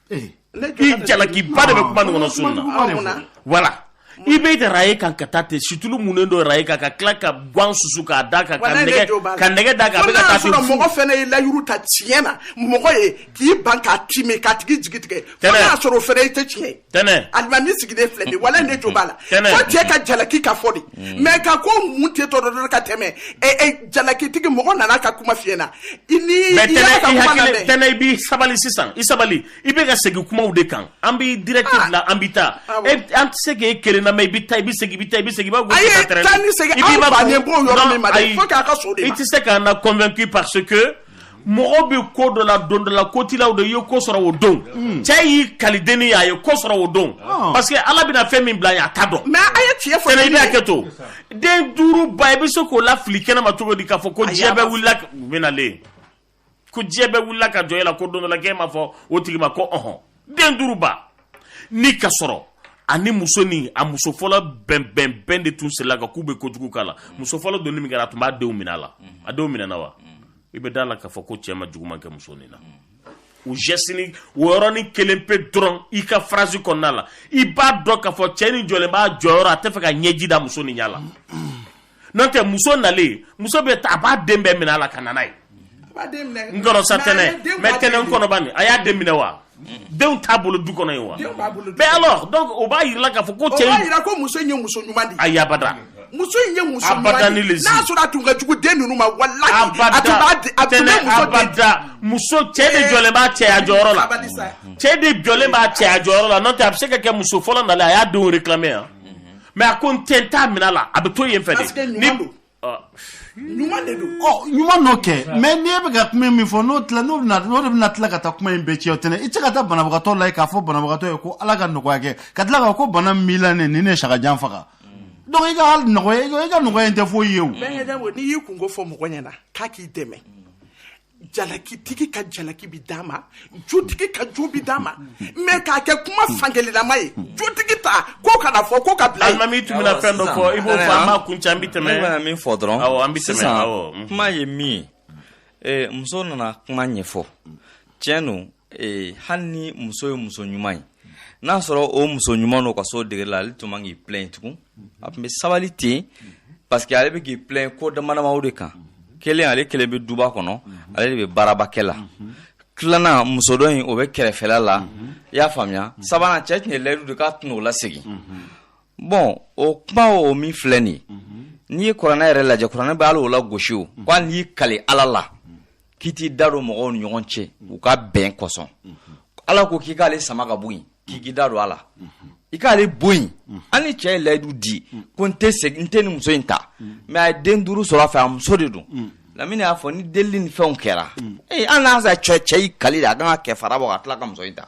i jalakiba de bɛ kuma nin kɔnɔ sun na voilà i bɛ tɛ araye kan ka taa ten situlu munnen don araye kan ka tila ka gan susu k'a da kan ka nɛgɛ ka nɛgɛ da kan a bɛ ka taa ten fu mɔgɔ fɛnɛ ye layuru ta tiɲɛ na mɔgɔ ye k'i ban k'a timɛ k'a tigi jigi tigɛ fo Tɛnɛ. n'a sɔrɔ o fɛnɛ i tɛ tiɲɛ ye tɛnɛ alimami sigilen filɛ nin ye walayi ne jo b'a la Tɛnɛ. fo cɛ ka jalaki ka fɔ de mais ka ko mun tɛ tɔ dɔ dɔrɔn ka tɛmɛ ɛ ɛ jalakitigi mɔgɔ nana ka kuma fiyɛ na i ni mais tɛnɛ i hakili tɛnɛ i b'i sabali sisan i sabali i bɛ ka segin kumaw de kan an b'i direct ah. bila an bɛ taa ah an tɛ se k'e kelen na mais i bɛ taa i bɛ segin i bɛ taa i bɛ segin i b'a gosi ka tɛrɛn ayi taa ni segin an bannen b'o yɔrɔ min ma dɛ fo k'a ka s'o de ma i tɛ se k'an na convaincu parce que mɔgɔ bɛ ko dɔ la don dɔ la ko t'i la o don i ye ko sɔrɔ o don hmm. cɛ y'i kali denni ye a ye ko sɔrɔ o don ah. parce que ala bɛna fɛn min bila a ye a t'a dɔn mais a ye tiɲɛ fɔ i bɛ hakɛ to den duuru ba i bɛ se k'o la fili kɛnɛma cogo di k'a fɔ ko diɲɛ bɛɛ wulila u bɛ nalen ko diɲɛ bɛɛ wulila ka jɔ e la ko don dɔ la k'e ma fɔ o tigi ma ko ɔhɔn den duuru ba ni ka sɔrɔ ani muso ni a muso fɔlɔ bɛnbɛnbɛn de tun sela ka k'u bɛ kojugu k'a la muso fɔlɔ donni min kɛra a tun b'a denw minɛ a la a denw minɛna wa i bɛ da a la k'a fɔ ko cɛ ma juguman kɛ muso nin na o geste o yɔrɔnin kelen pe dɔrɔn i ka phrase kɔnɔna la i b'a dɔn k'a fɔ cɛ nin jɔlen b'a jɔyɔrɔ a t'a fɛ ka ɲɛji da muso nin ɲɛ la n'o tɛ muso nalen muso bɛ taa a b'a den bɛɛ minɛ a la ka na n'a ye n kɔnɔ sa tɛnɛ mais tɛnɛ n kɔnɔ bani a y'a den minɛ wa denw t'a bolo du kɔnɔ yen wa mais alors o b'a jira k'a fɔ ko cɛ jira ko muso ye muso ɲuman ayi abada muso in ye muso n'a sɔrɔ a tun ka jugu den ninnu ma walahi muso cɛ de jɔlen b'a cɛya jɔyɔrɔ la cɛ de jɔlen b'a cɛya jɔyɔrɔ la n'o tɛ a bɛ se ka kɛ muso fɔlɔ nalen a y'a denw réclamer yan mais a ko n tɛ n t'a minɛ a la a bɛ to yen fɛ de ni ɲuman de don ɔ ɲuman don kɛ mais n'i bɛ ka kuma min fɔ n'o tila n'o bɛna n'o de bɛna tila ka taa kuma in bɛɛ cɛ tɛnɛ i tɛ se ka taa banabagatɔ lajɛ k'a fɔ banabagatɔ ye ko ala ka nɔgɔya kɛ ka tila k'a fɔ ko bana min b'i la nin ye ne sagajan faga donc i ka hali nɔgɔya i ka nɔgɔya in tɛ foyi ye o n'i y'i kunko fɔ mɔgɔ ɲɛna k'a k'i dɛmɛ jalakitigi ka jalaki bi d'a ma jotigi ka jo bi d'a ma mais k'a kɛ kuma fankelennama ye jotigi ta ko kana fɔ ko ka bila alimami tun bɛna fɛn dɔ fɔ i b'o fɔ an b'a kuncɛ an bi tɛmɛ ne bɛna min fɔ dɔrɔn awɔ an bi tɛmɛ awɔ sisan kuma ye min ye muso nana kuma ɲɛfɔ tiɲɛ don ee hali ni muso ye muso ɲuman ye n'a sɔrɔ o muso ɲuman n'o ka s'o degré la ale tun man k'i plaint tugun a tun bɛ sabali ten parce que ale bɛ k'i plaint ko damadama de kan kelen ale kelen bɛ duba kɔnɔ ale de bɛ baaraba kɛ la tilanan muso dɔ in o bɛ kɛrɛfɛla la i y'a faamuya sabanan cɛ tun ye layidu di k'a tɛn'o lasegin bon o kuma o min filɛ nin n'i ye kuranɛ yɛrɛ lajɛ kuranɛ bɛ hali o lagosi o ko hali n'i y'i kali ala la k'i t'i da don mɔgɔw ni ɲɔgɔn cɛ u ka bɛn kosɔn ala ko k'i k'ale sama ka bɔ yen k'i k'i da don a la i k'ale bɔ yen hali ni cɛ ye layidu di ko n tɛ segin n tɛna muso in ta mais a ye den duuru sɔrɔ a fɛ a muso de don lamini y'a fɔ ni delili ni fɛnw kɛra ee hali n'a sɔrɔ cɛ y'i kali de a kan ka kafara bɔ ka tila ka muso in ta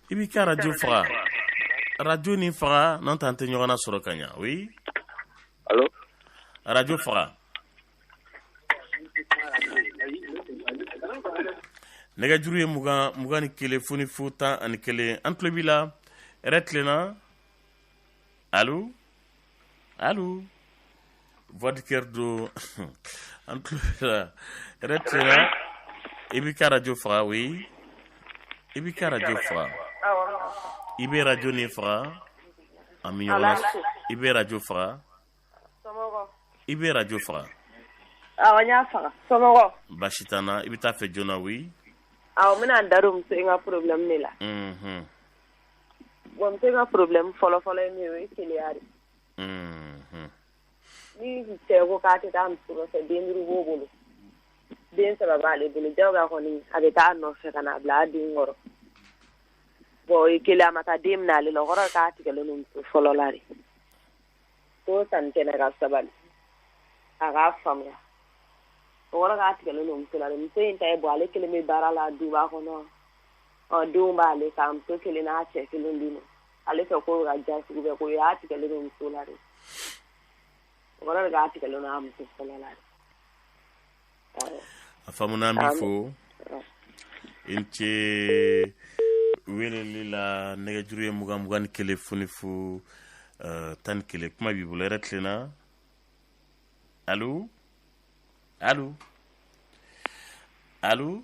i b'i ka radio faga, radio nin faga n'o tɛ an tɛ ɲɔgɔn lasɔrɔ ka ɲa oui, allo, radio faga, nɛgɛjuru ye 20 21 fu ni fu 11 an tulo b'i la, hɛrɛ tilenna, allo Allô Voix du cœur don. An tulo b'i la, hɛrɛ tilenna, i b'i ka radio faga, oui. I b'i ka radio faga. I bɛ radio nin faga. An bɛ ɲɔgɔn na. I bɛ radio faga. I bɛ radio faga. Awɔ, n y'a faga. Somɔgɔ. Basi t'an na, i bɛ taa fɛ joona, oui. Awɔ, n bɛna n da don muso in ka problème de la. Unhun. Bon muso in ka problème fɔlɔfɔlɔ ye min ye o ye keleya de ni cɛ ko k'a tɛ taa muso nɔfɛ den duuru b'o bolo den saba b'ale bolo jagoya kɔni a bɛ taa a nɔfɛ ka n'a bila a den kɔrɔ bon o ye kelen a ma taa den minɛ ale la o kɔrɔ k'a tigɛlen don muso fɔlɔ la de ko sanni kɛnɛ ka sabali a k'a faamuya o kɔrɔ k'a tigɛlen don muso la dɛ muso in ta ye bon ale kelen bɛ baara la duba kɔnɔ ɔ denw b'ale kan muso kelen n'a cɛ kelen bɛ yen ale fɛ k'o bɛ ka diya sugu bɛɛ ko y'a tigɛlen don muso la dɛ o kɔrɔ de k'a tigɛlen don a muso fɔlɔ la dɛ a faamuna an b'i fo i ni ce weleli la nɛgɛjuru ye mugan mugan ni kelen fu ni fu eh, tan ni kelen kuma b'i bolo hɛrɛ tilenna allo allo allo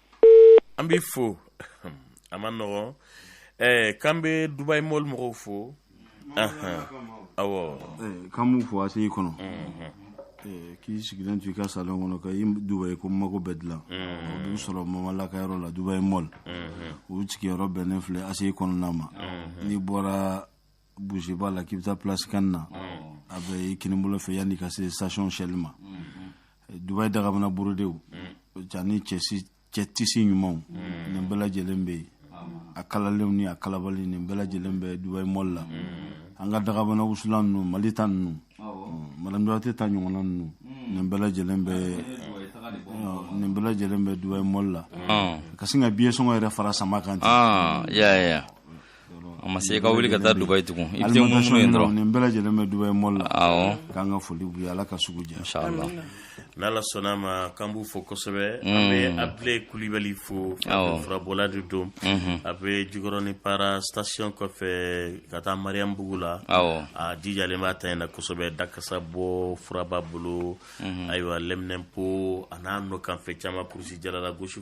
An b'i fo a man nɔgɔn ɛɛ k'an bɛ Dubaï Mall mɔgɔw fo anhan awɔ k'an b'u fo ACI kɔnɔ k'i sigilen to i ka salon kɔnɔ ka i Dubaï ko mago bɛɛ dilan o b'u sɔrɔ Mamala ka yɔrɔ la Dubaï Mall u sigiyɔrɔ bɛnnen filɛ ACI kɔnɔna ma n'i bɔra Bourguiba la k'i bɛ taa Place CAN na a bɛ i kinibolo fɛ yanni ka se station Shell ma Dubaï dagabana borodew ani cɛ tisi ɲumanw nin bɛɛ lajɛlen bɛ yen a kalalenw ni a kalabali nin bɛɛ lajɛlen bɛ Dubaï Mall la an ka dagabana wusulan ninnu mali ta ninnu madame duwate ta ɲɔgɔnna ninnu nin bɛɛ lajɛlen bɛ nin bɛɛ lajɛlen bɛ Dubaï Mall la ka sin ka billet sɔngɔ yɛrɛ fara sama kan ten A ma se ka wuli ka taa Dubaï tugun i bɛ minnu ye dɔrɔn nin bɛɛ lajɛlen bɛ Dubaï Mall la k'an ka foli b'u ye Ala ka sugu diya n'Ala sɔnn'a ma k'an b'u fo kosɛbɛ an bɛ Abdulaye Kulubali fo furabɔla de don a bɛ Jikɔrɔni Para station kɔfɛ ka taa Mariambugu la a jijalen b'a ta in na kosɛbɛ dakasa bɔ fura b'a bolo ayiwa lɛminɛnpo a n'a nɔkanfɛn caman kurusijala gosi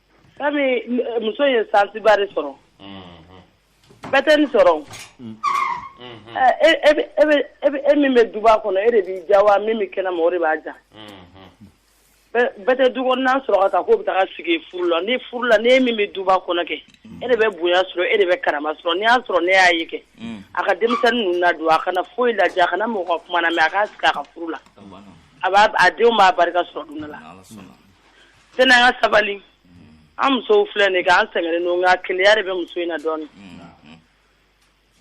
Komi muso ye sansiba de sɔrɔ bɛɛ tɛ nin sɔrɔ e min bɛ duba kɔnɔ e de b'i ja wa min bɛ kɛnɛma o de b'a ja bɛɛ tɛ du kɔnɔna sɔrɔ ka taa k'o bɛ taa sigi furu la ni furu la e min bɛ duba kɔnɔ kɛ e de bɛ bonya sɔrɔ e de bɛ karama sɔrɔ n'i y'a sɔrɔ ne y'a ye kɛ a ka denmisɛnnin ninnu ladon a kana foyi lajɛ a kana mɔgɔ ka kuma lamɛn a ka sigi a ka furu la a denw b'a barika sɔrɔ don la Sani an ka sabali an musow filɛ nin ye k'an sɛgɛnnen don nka keleya de bɛ muso in na dɔɔnin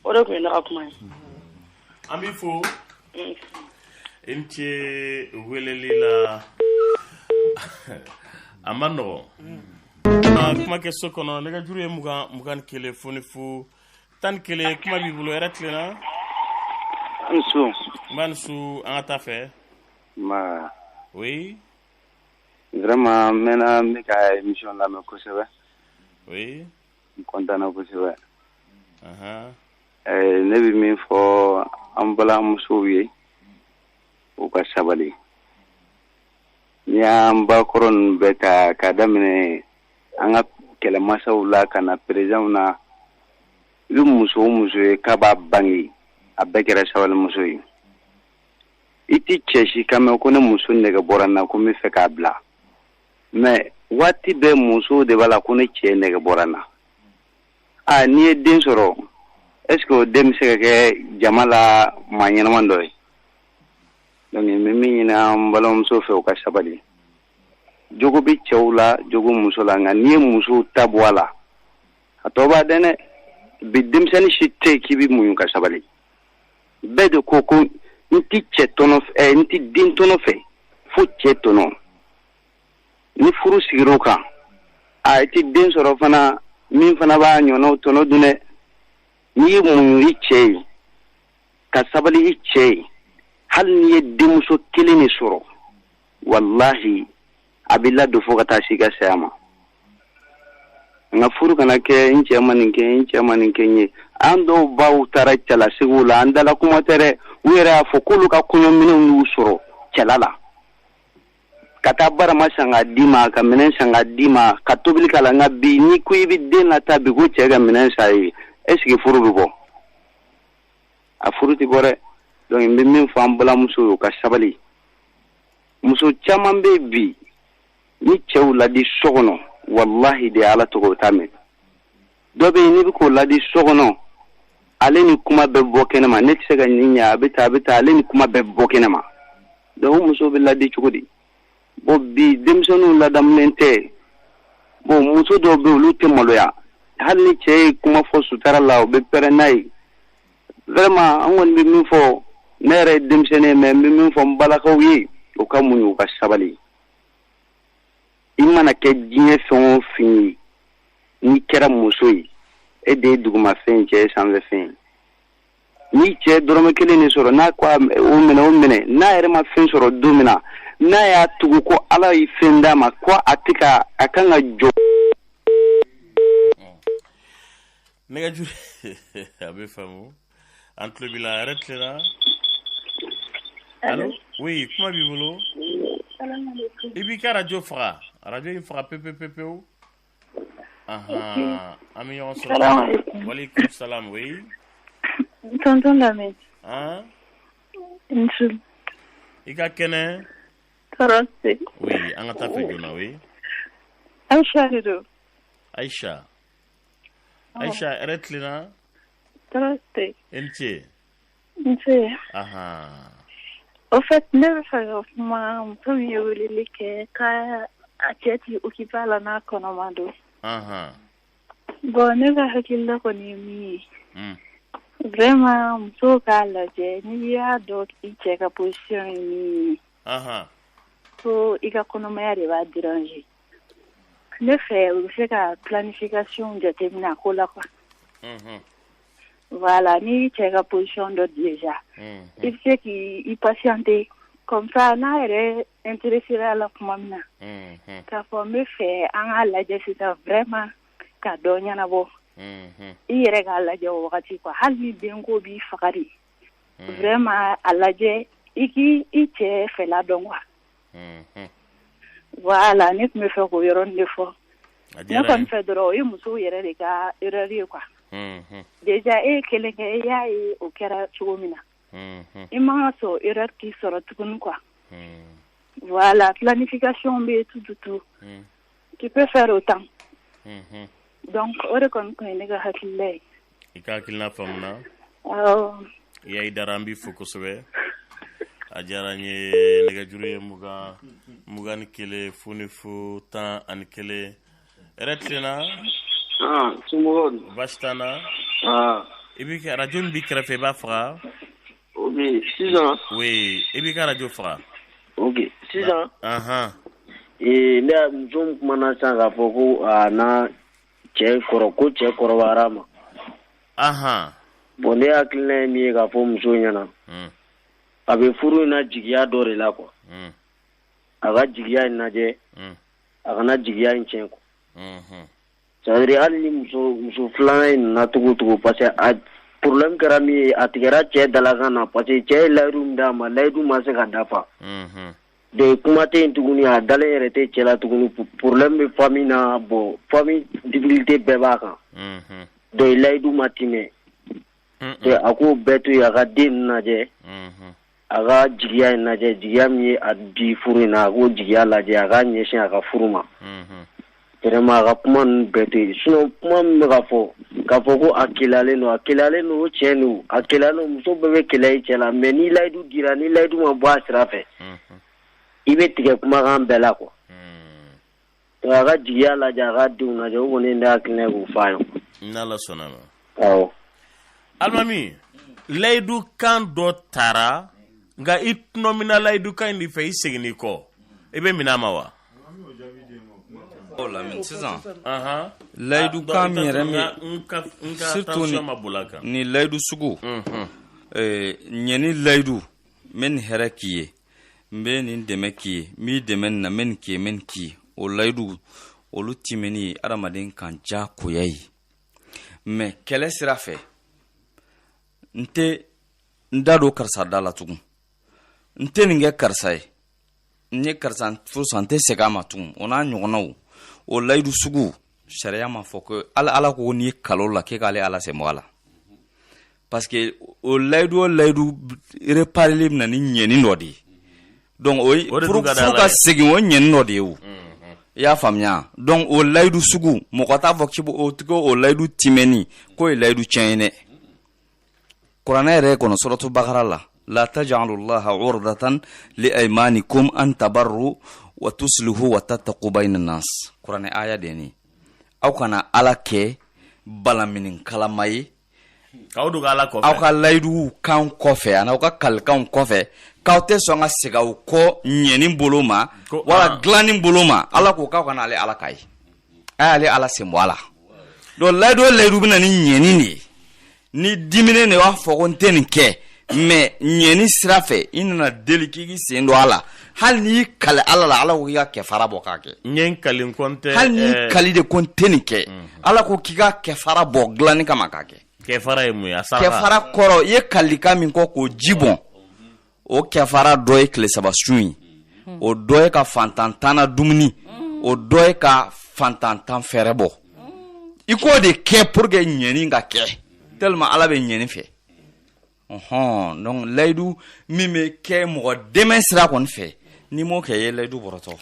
o de tun ye ne ka kuma ye An b'i fo i ni ce weleli la a man nɔgɔn An kuma kɛ so kɔnɔ nɛgɛjuru ye mugan mugan ni kelen fu ni fu tan ni kelen kuma b'i bolo hɛrɛ tilenna Nse, nba i ni su an ka taa fɛ ma oui Vraiment n mɛnna n b'i ka émission lamɛn kosɛbɛ, oui, n content na kosɛbɛ, anhan, ɛɛ ne bɛ min fɔ an balimamusow ye u ka sabali, n'i y'an bakɔrɔ ninnu bɛɛ ta k'a daminɛ an ka kɛlɛmasaw la ka na président w na, i bɛ muso o muso ye k'a b'a bange a bɛɛ kɛra sabalimuso ye i tɛ cɛ si kan mɛn ko ne muso nɛgɛ bɔra n na ko n bɛ fɛ k'a bila mais waati bɛɛ muso de b'a la ko ne cɛ nɛgɛ bɔra n na aa n'i ye den sɔrɔ est-ce que o den bɛ se ka kɛ jama la maa ɲɛnaman dɔ ye donc n bɛ min ɲini an balimamuso fɛ u ka sabali jogo bɛ cɛw la jogo muso la nka n'i ye musow ta bɔ a la a tɔ b'a dɛn dɛ bi denmisɛnnin si tɛ yen k'i bɛ muɲu ka sabali bɛɛ de ko ko n tɛ cɛ tɔnɔ eh, n tɛ den tɔnɔ fɛ fo cɛ tɔnɔ ni furu sigira o kan a i tɛ den sɔrɔ fana min fana b'a ɲɔgɔnnaw tɔnɔ dun dɛ n'i ye muɲu i cɛ ye ka sabali i cɛ ye hali n'i ye denmuso kelen de sɔrɔ walahi a b'i ladon fo ka taa se i ka saya ma nka furu kana kɛ n cɛ ma nin kɛ n cɛ ma nin kɛ n ye an dɔw baw taara cɛla segiw la an dala kuma tɛ dɛ u yɛrɛ y'a fɔ k'olu ka kɔɲɔminɛnw y'u sɔrɔ cɛla la ka taa barama san k'a d'i ma ka minɛn san k'a d'i ma ka tobili k'a la nka bi n'i ko i bɛ den lataa bi ko cɛ ka minɛn san i ye est-ce que furu bɛ bɔ a furu tɛ bɔ dɛ donc n bɛ min fɔ an balimamusow ye u ka sabali muso caman bɛ bi ni cɛw ladi so kɔnɔ walahi de ala tɔgɔ t'a mɛn dɔ bɛ n'i bɛ k'o ladi so kɔnɔ ale ni kuma bɛɛ bɛ bɔ kɛnɛ ma ne tɛ se ka nin ɲɛ a bɛ taa a bɛ taa ale ni kuma bɛɛ bɛ bɔ kɛnɛ ma donc muso bɛ ladi cogo di bon bi denmisɛnninw ladamulen tɛ bon muso dɔw bɛ olu tɛ maloya hali ni cɛ ye kuma fɔ sutara la u bɛ pɛrɛn n'a ye vraiment an kɔni bɛ min fɔ ne yɛrɛ ye denmisɛnnin ye mais n bɛ min fɔ n balakaw ye u ka muɲu u ka sabali i mana kɛ diɲɛ fɛn o fɛn ye n'i kɛra muso ye e de ye dugumafɛn ye cɛ ye sanfɛfɛn ye n'i cɛ ye dɔrɔmɛ kelen de sɔrɔ n'a ko o minɛ o minɛ n'a yɛrɛ ma fɛn sɔrɔ don min na n'a y'a tugu ko ala ye fɛn d'a ma ko a tɛ ka a kan ka jɔ nɛgɛjuru a bɛ faamu an tulo b'i la hɛrɛ tilenna oui kuma b'i bolo i b'i ka arajo faga arajo in faga pepe pewu an bɛ ɲɔgɔn sɔrɔ walekum salam i ka kɛnɛ an ka taa fɛ joona oui Aisha Aisha hɛrɛ tilenna tɔɔrɔ tɛ i ni ce nse au fait ne bɛ fɛ ka kuma muso min ye weleli kɛ ka a cɛ t'i occuper a la n'a kɔnɔma don bon ne ka hakilila kɔni ye min ye vraiment muso k'a lajɛ n'i y'a dɔn i cɛ ka position ye min ye ko i ka kɔnɔmaya de b'a déranger ne fɛ u bɛ se ka planification jateminɛ a ko la quoi voilà n'i cɛ ka position dɔn déjà i bɛ se k' i patienter comme ça n'a yɛrɛ intéresséra a la tuma min na k'a fɔ n bɛ fɛ an k'a lajɛ sisan vraiment ka dɔ ɲɛnabɔ i yɛrɛ k'a lajɛ o wagati quoi hali ni den ko b'i faga de ma a lajɛ i k' i cɛ fɛ dɔn wa wala ne tun bɛ fɛ ko yɔrɔ de fɔ fɛ dɔrɔn o ye musow yɛrɛ de ka ye kuwa jja e kelen kɛ e y'a ye o kɛra cogo min na i ma sɔn e k'i sɔrɔ tuguni kuwa wala filain' ka son bɛ tu tu Qui peut faire autant. Mhm. Donc, o de kɔni tun ye ne ka hakilila ye. I ka hakilina faamuna. Awɔ. Yayi Dara an b'i fo kosɛbɛ. A diyara n ye nɛgɛjuru ye mugan mugan ni kelen fu ni fu tan ani kelen. Hɛrɛ tilenna? Aa somɔgɔw dun? Baasi t'an na. Aa. I b'i ka arajo min b'i kɛrɛfɛ i b'a faga. O bɛ yen sisan. Oui i b'i ka arajo faga. Ok sisan ee ne muso min kumana san k'a fɔ ko a n'a cɛ kɔrɔ ko cɛ kɔrɔbara ma bon ne hakilina ye min ye k'a fɔ muso ɲɛna a bɛ furu in na jigiya dɔ de la quoi a ka jigiya in lajɛ a kana jigiya in tiɲɛ quoi C'est-à-dire hali ni muso filanan in na cogo o cogo parce que a problème kɛra min ye a tigɛra cɛ dalakan na parce que cɛ ye layidu d'a ma layidu ma se ka dafa donc kuma tɛ yen tuguni a dalen yɛrɛ tɛ cɛ la tuguni problème bɛ famille na bon famille difficulté bɛɛ b'a kan donc layidu ma timɛ a k'o bɛɛ to yen a ka den ninnu lajɛ a ka jigiya in lajɛ jigiya min ye a di furu in na a k'o jigiya lajɛ a ka ɲɛsin a ka furu ma vraiment a ka kuma ninnu bɛɛ to yen sinon kuma min bɛ ka fɔ k'a fɔ ko a keleyalen don a keleyalen don o tiɲɛ don a keleyalen don muso bɛɛ bɛ keleya i cɛ la mais ni layidu dira ni layidu ma bɔ a sira fɛ i bɛ tigɛ kumakan bɛɛ la quoi A ka jigiya lajɛ a ka denw lajɛ o kɔni ne hakilina ye k'o f'a ye n'Ala sɔnna alimami layidu kan dɔ taara nka i tɔnɔmina layidu kan in de fɛ i seginni kɔ i bɛ minɛ a ma wa sisan layidu kan ni layidu sugu ɲɛni layidu n bɛ nin hɛrɛ k'i ye n bɛ nin dɛmɛ k'i ye n b'i dɛmɛ nin na n bɛ nin k'i ye n bɛ nin k'i ye o layidu olu timɛni ye adamaden kan diyagoya ye mais kɛlɛ sira fɛ n tɛ n da don karisa da la tugun n tɛ nin kɛ karisa ye n ye karisa furusa n tɛ segin a ma tugun o n'a ɲɔgɔnnaw o layidu sugu sariya m'a fɔ ko ala ala ko n'i y'i kali o la k'e k'ale ala sen bɔ a la parce que o layidu o layidu répareli bɛ na ni ɲɛni dɔ de ye donc o ye furu ka segin o ɲɛni dɔ de ye o i y'a faamuya donc o layidu sugu mɔgɔ t'a fɔ k'i o tigi o layidu timɛni k'o ye layidu tiɲɛ ye dɛ kuranɛ yɛrɛ kɔnɔ suratu bakara la la tajalu llaha urdatan li aymanikum an tabarru wa tuslihu wa tattaqu bayna nas kuranɛ aya de ye nin aw kana ala kɛ balaminin kalama ye k'aw dogo ala kɔfɛ aw ka layiduw kan kɔfɛ ani aw ka kalikanw kɔfɛ k'aw tɛ sɔn ka segin aw kɔ ɲɛni bolo ma wala ah. dilanni bolo ma ala ko k'aw kana ale ala ka ye a y'ale ala sen bɔ a la donc layidu o layidu bɛ na ni ɲɛni de ye n'i diminen de b'a fɔ ko n tɛ nin kɛ mais ɲɛni sira fɛ i nana deli k'i k'i sen don a la hali n'i kali ala la ala ko k'i ka kɛfara bɔ k'a kɛ ɲɛ n kali n kɔn tɛ hali n'i eh, kali de ko n tɛ nin kɛ mhm. ala ko k'i ka kɛfara bɔ dilanni kama k'a kɛ kɛfara ye mun ye a sara kɛfara kɔrɔ i ye kalikan min kɛ k'o ji bɔn o kɛfara dɔ ye tile saba sun ye mhm. o dɔ ye ka fantan tan na dumuni mhm. o dɔ ye ka fantan tan fɛɛrɛbɔ i k'o de kɛ pour que ɲɛni ka kɛ tellement ala bɛ ɲɛni fɛ ɔhɔn donc layidu min bɛ kɛ mɔgɔ dɛmɛ sira kɔni fɛ n'i m'o kɛ i ye layidu bɔrɔtɔ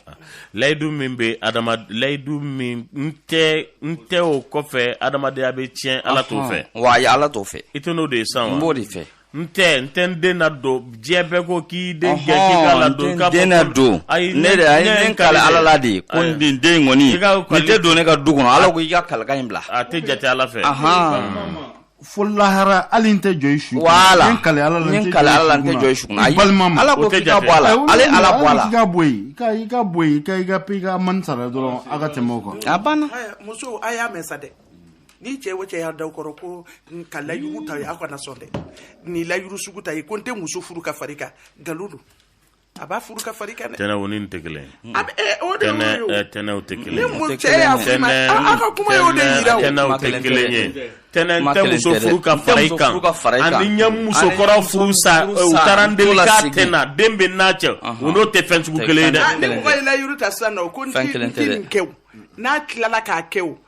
layidu min bɛ adama layidu min n tɛ n tɛ o kɔfɛ adamadenya bɛ tiɲɛ ala t'o fɛ wa ayi ala t'o fɛ i tɛ n'o de ye san wa n b'o de fɛ n tɛ n tɛ n den nadon diɲɛ bɛɛ ko k'i den gɛn k'i k'a ladon k'a fɔ den na ko- don ayi ne de a ye ne kale ala la de ye ko Ayi. nin den in kɔni I ka nin kale- tɛ don ne ka du kɔnɔ ala ko i ka kalikan in bila a tɛ jate ala fɛ Ahan. fo lahara hali n tɛ jɔ i su kunna. Voilà. N ye kale ala la N ye kale Ala la, n tɛ jɔ i su kunna. Ayi. balima ma Ala ko O tɛ k'i ka jate. bɔ a la. Ayi, Ale wuli, Ala bɔ a la. i ka bɔ yen i ka i ka bɔ yen i ka i ka i ka mani sara dɔrɔn a ka tɛmɛ o kan a banna Ɛ, musow a y'a mɛn sa dɛ ni cɛ o cɛ y'a da o kɔrɔ ko n ka layiru ta ye aw kana sɔn dɛ ni layiru sugu ta ye ko n tɛ muso furu ka far'i kan nkalon don A b'a furu ka far'i kan dɛ. Tɛnɛ o ni nin tɛ kelen ye. A bɛ ee o de y'o ye o. Tɛnɛ Tɛnɛ o tɛ kelen ye. Ni mun cɛ y'a f'i ma a aw ka kuma y'o de yira o. Tɛnɛ o tɛ kelen ye. Tɛnɛ n tɛ muso furu ka fara i kan ani n ye musokɔrɔ furusa u taara n deli k'a tɛ na den bɛ n'a cɛ o n'o tɛ fɛn sugu kelen ye dɛ. Ni mɔgɔ ye layiru ta sisan nɔ ko n tɛ nin kɛ o n'a tilala k'a kɛ o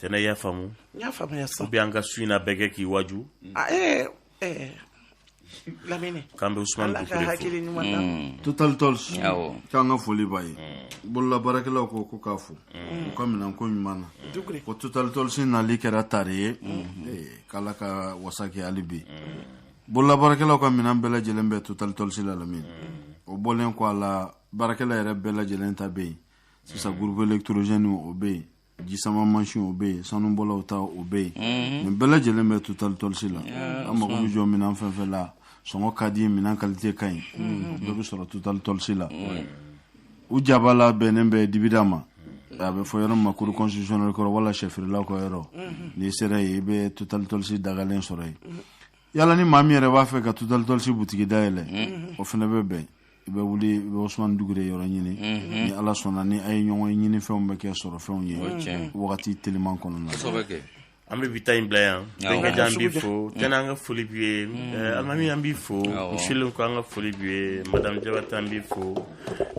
tɛnɛ y'a faamu y'a faamuya sa ou bien an ka su in na bɛɛ kɛ k'i waju ah, eh, eh. lamini k'an bɛ usumani ala ka hakili ɲuman na mm. Total Tools k'an ka foli b'a ye mm. bolola baarakɛlaw ko ko k'a fo mm. u ka minɛnko ɲuman na ko Total Tools nali kɛra tare ye eh, k'ala ka wasa kɛ hali bi bolola baarakɛlaw ka minɛn bɛɛ lajɛlen bɛ Total Tools la lamini o bɔlen kɔ a la baarakɛla yɛrɛ bɛɛ lajɛlen ta bɛ yen sisan groupe électrogène o bɛ yen jisama mansin o bɛ yen sanubɔlaw ta o bɛ yen mhm. nin bɛɛ lajɛlen bɛ Total Tools la an mago bɛ jɔminɛn fɛn fɛn la sɔngɔ ka di minɛn kalite ka ɲi mhm. bɛɛ bɛ sɔrɔ Total Tools la u jaba la bɛnnen bɛ dibida ma a bɛ fɔ yɔrɔ min ma cour constitutionnelle kɔrɔ wala sɛfeerelaw ka yɔrɔ mhm. n'i sera yen i bɛ Total Tools dagalen sɔrɔ yen wala ni maa min yɛrɛ b'a fɛ ka Total Tools butigi dayɛlɛ mm-hmm. o fana bɛ bɛn i bɛ wuli i bɛ usumani dugure yɔrɔ ɲini mm-hmm. ni ala sɔnna ni a ye ɲɔgɔn ye ɲinifɛnw bɛ kɛ sɔrɔfɛnw ye wagati teliman kɔnɔna na an bɛ bi ta in bila yan bɛnkɛja an b'i fo mm. tɛnɛ an ka foli b'i ye mm. eh, alimami an b'i fo misilen ko an ka foli b'i ye madamu jabate an b'i fo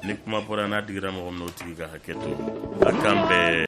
ni kuma bɔra n'a digira mɔgɔ min na o tigi ka hakɛ to a k'an bɛɛ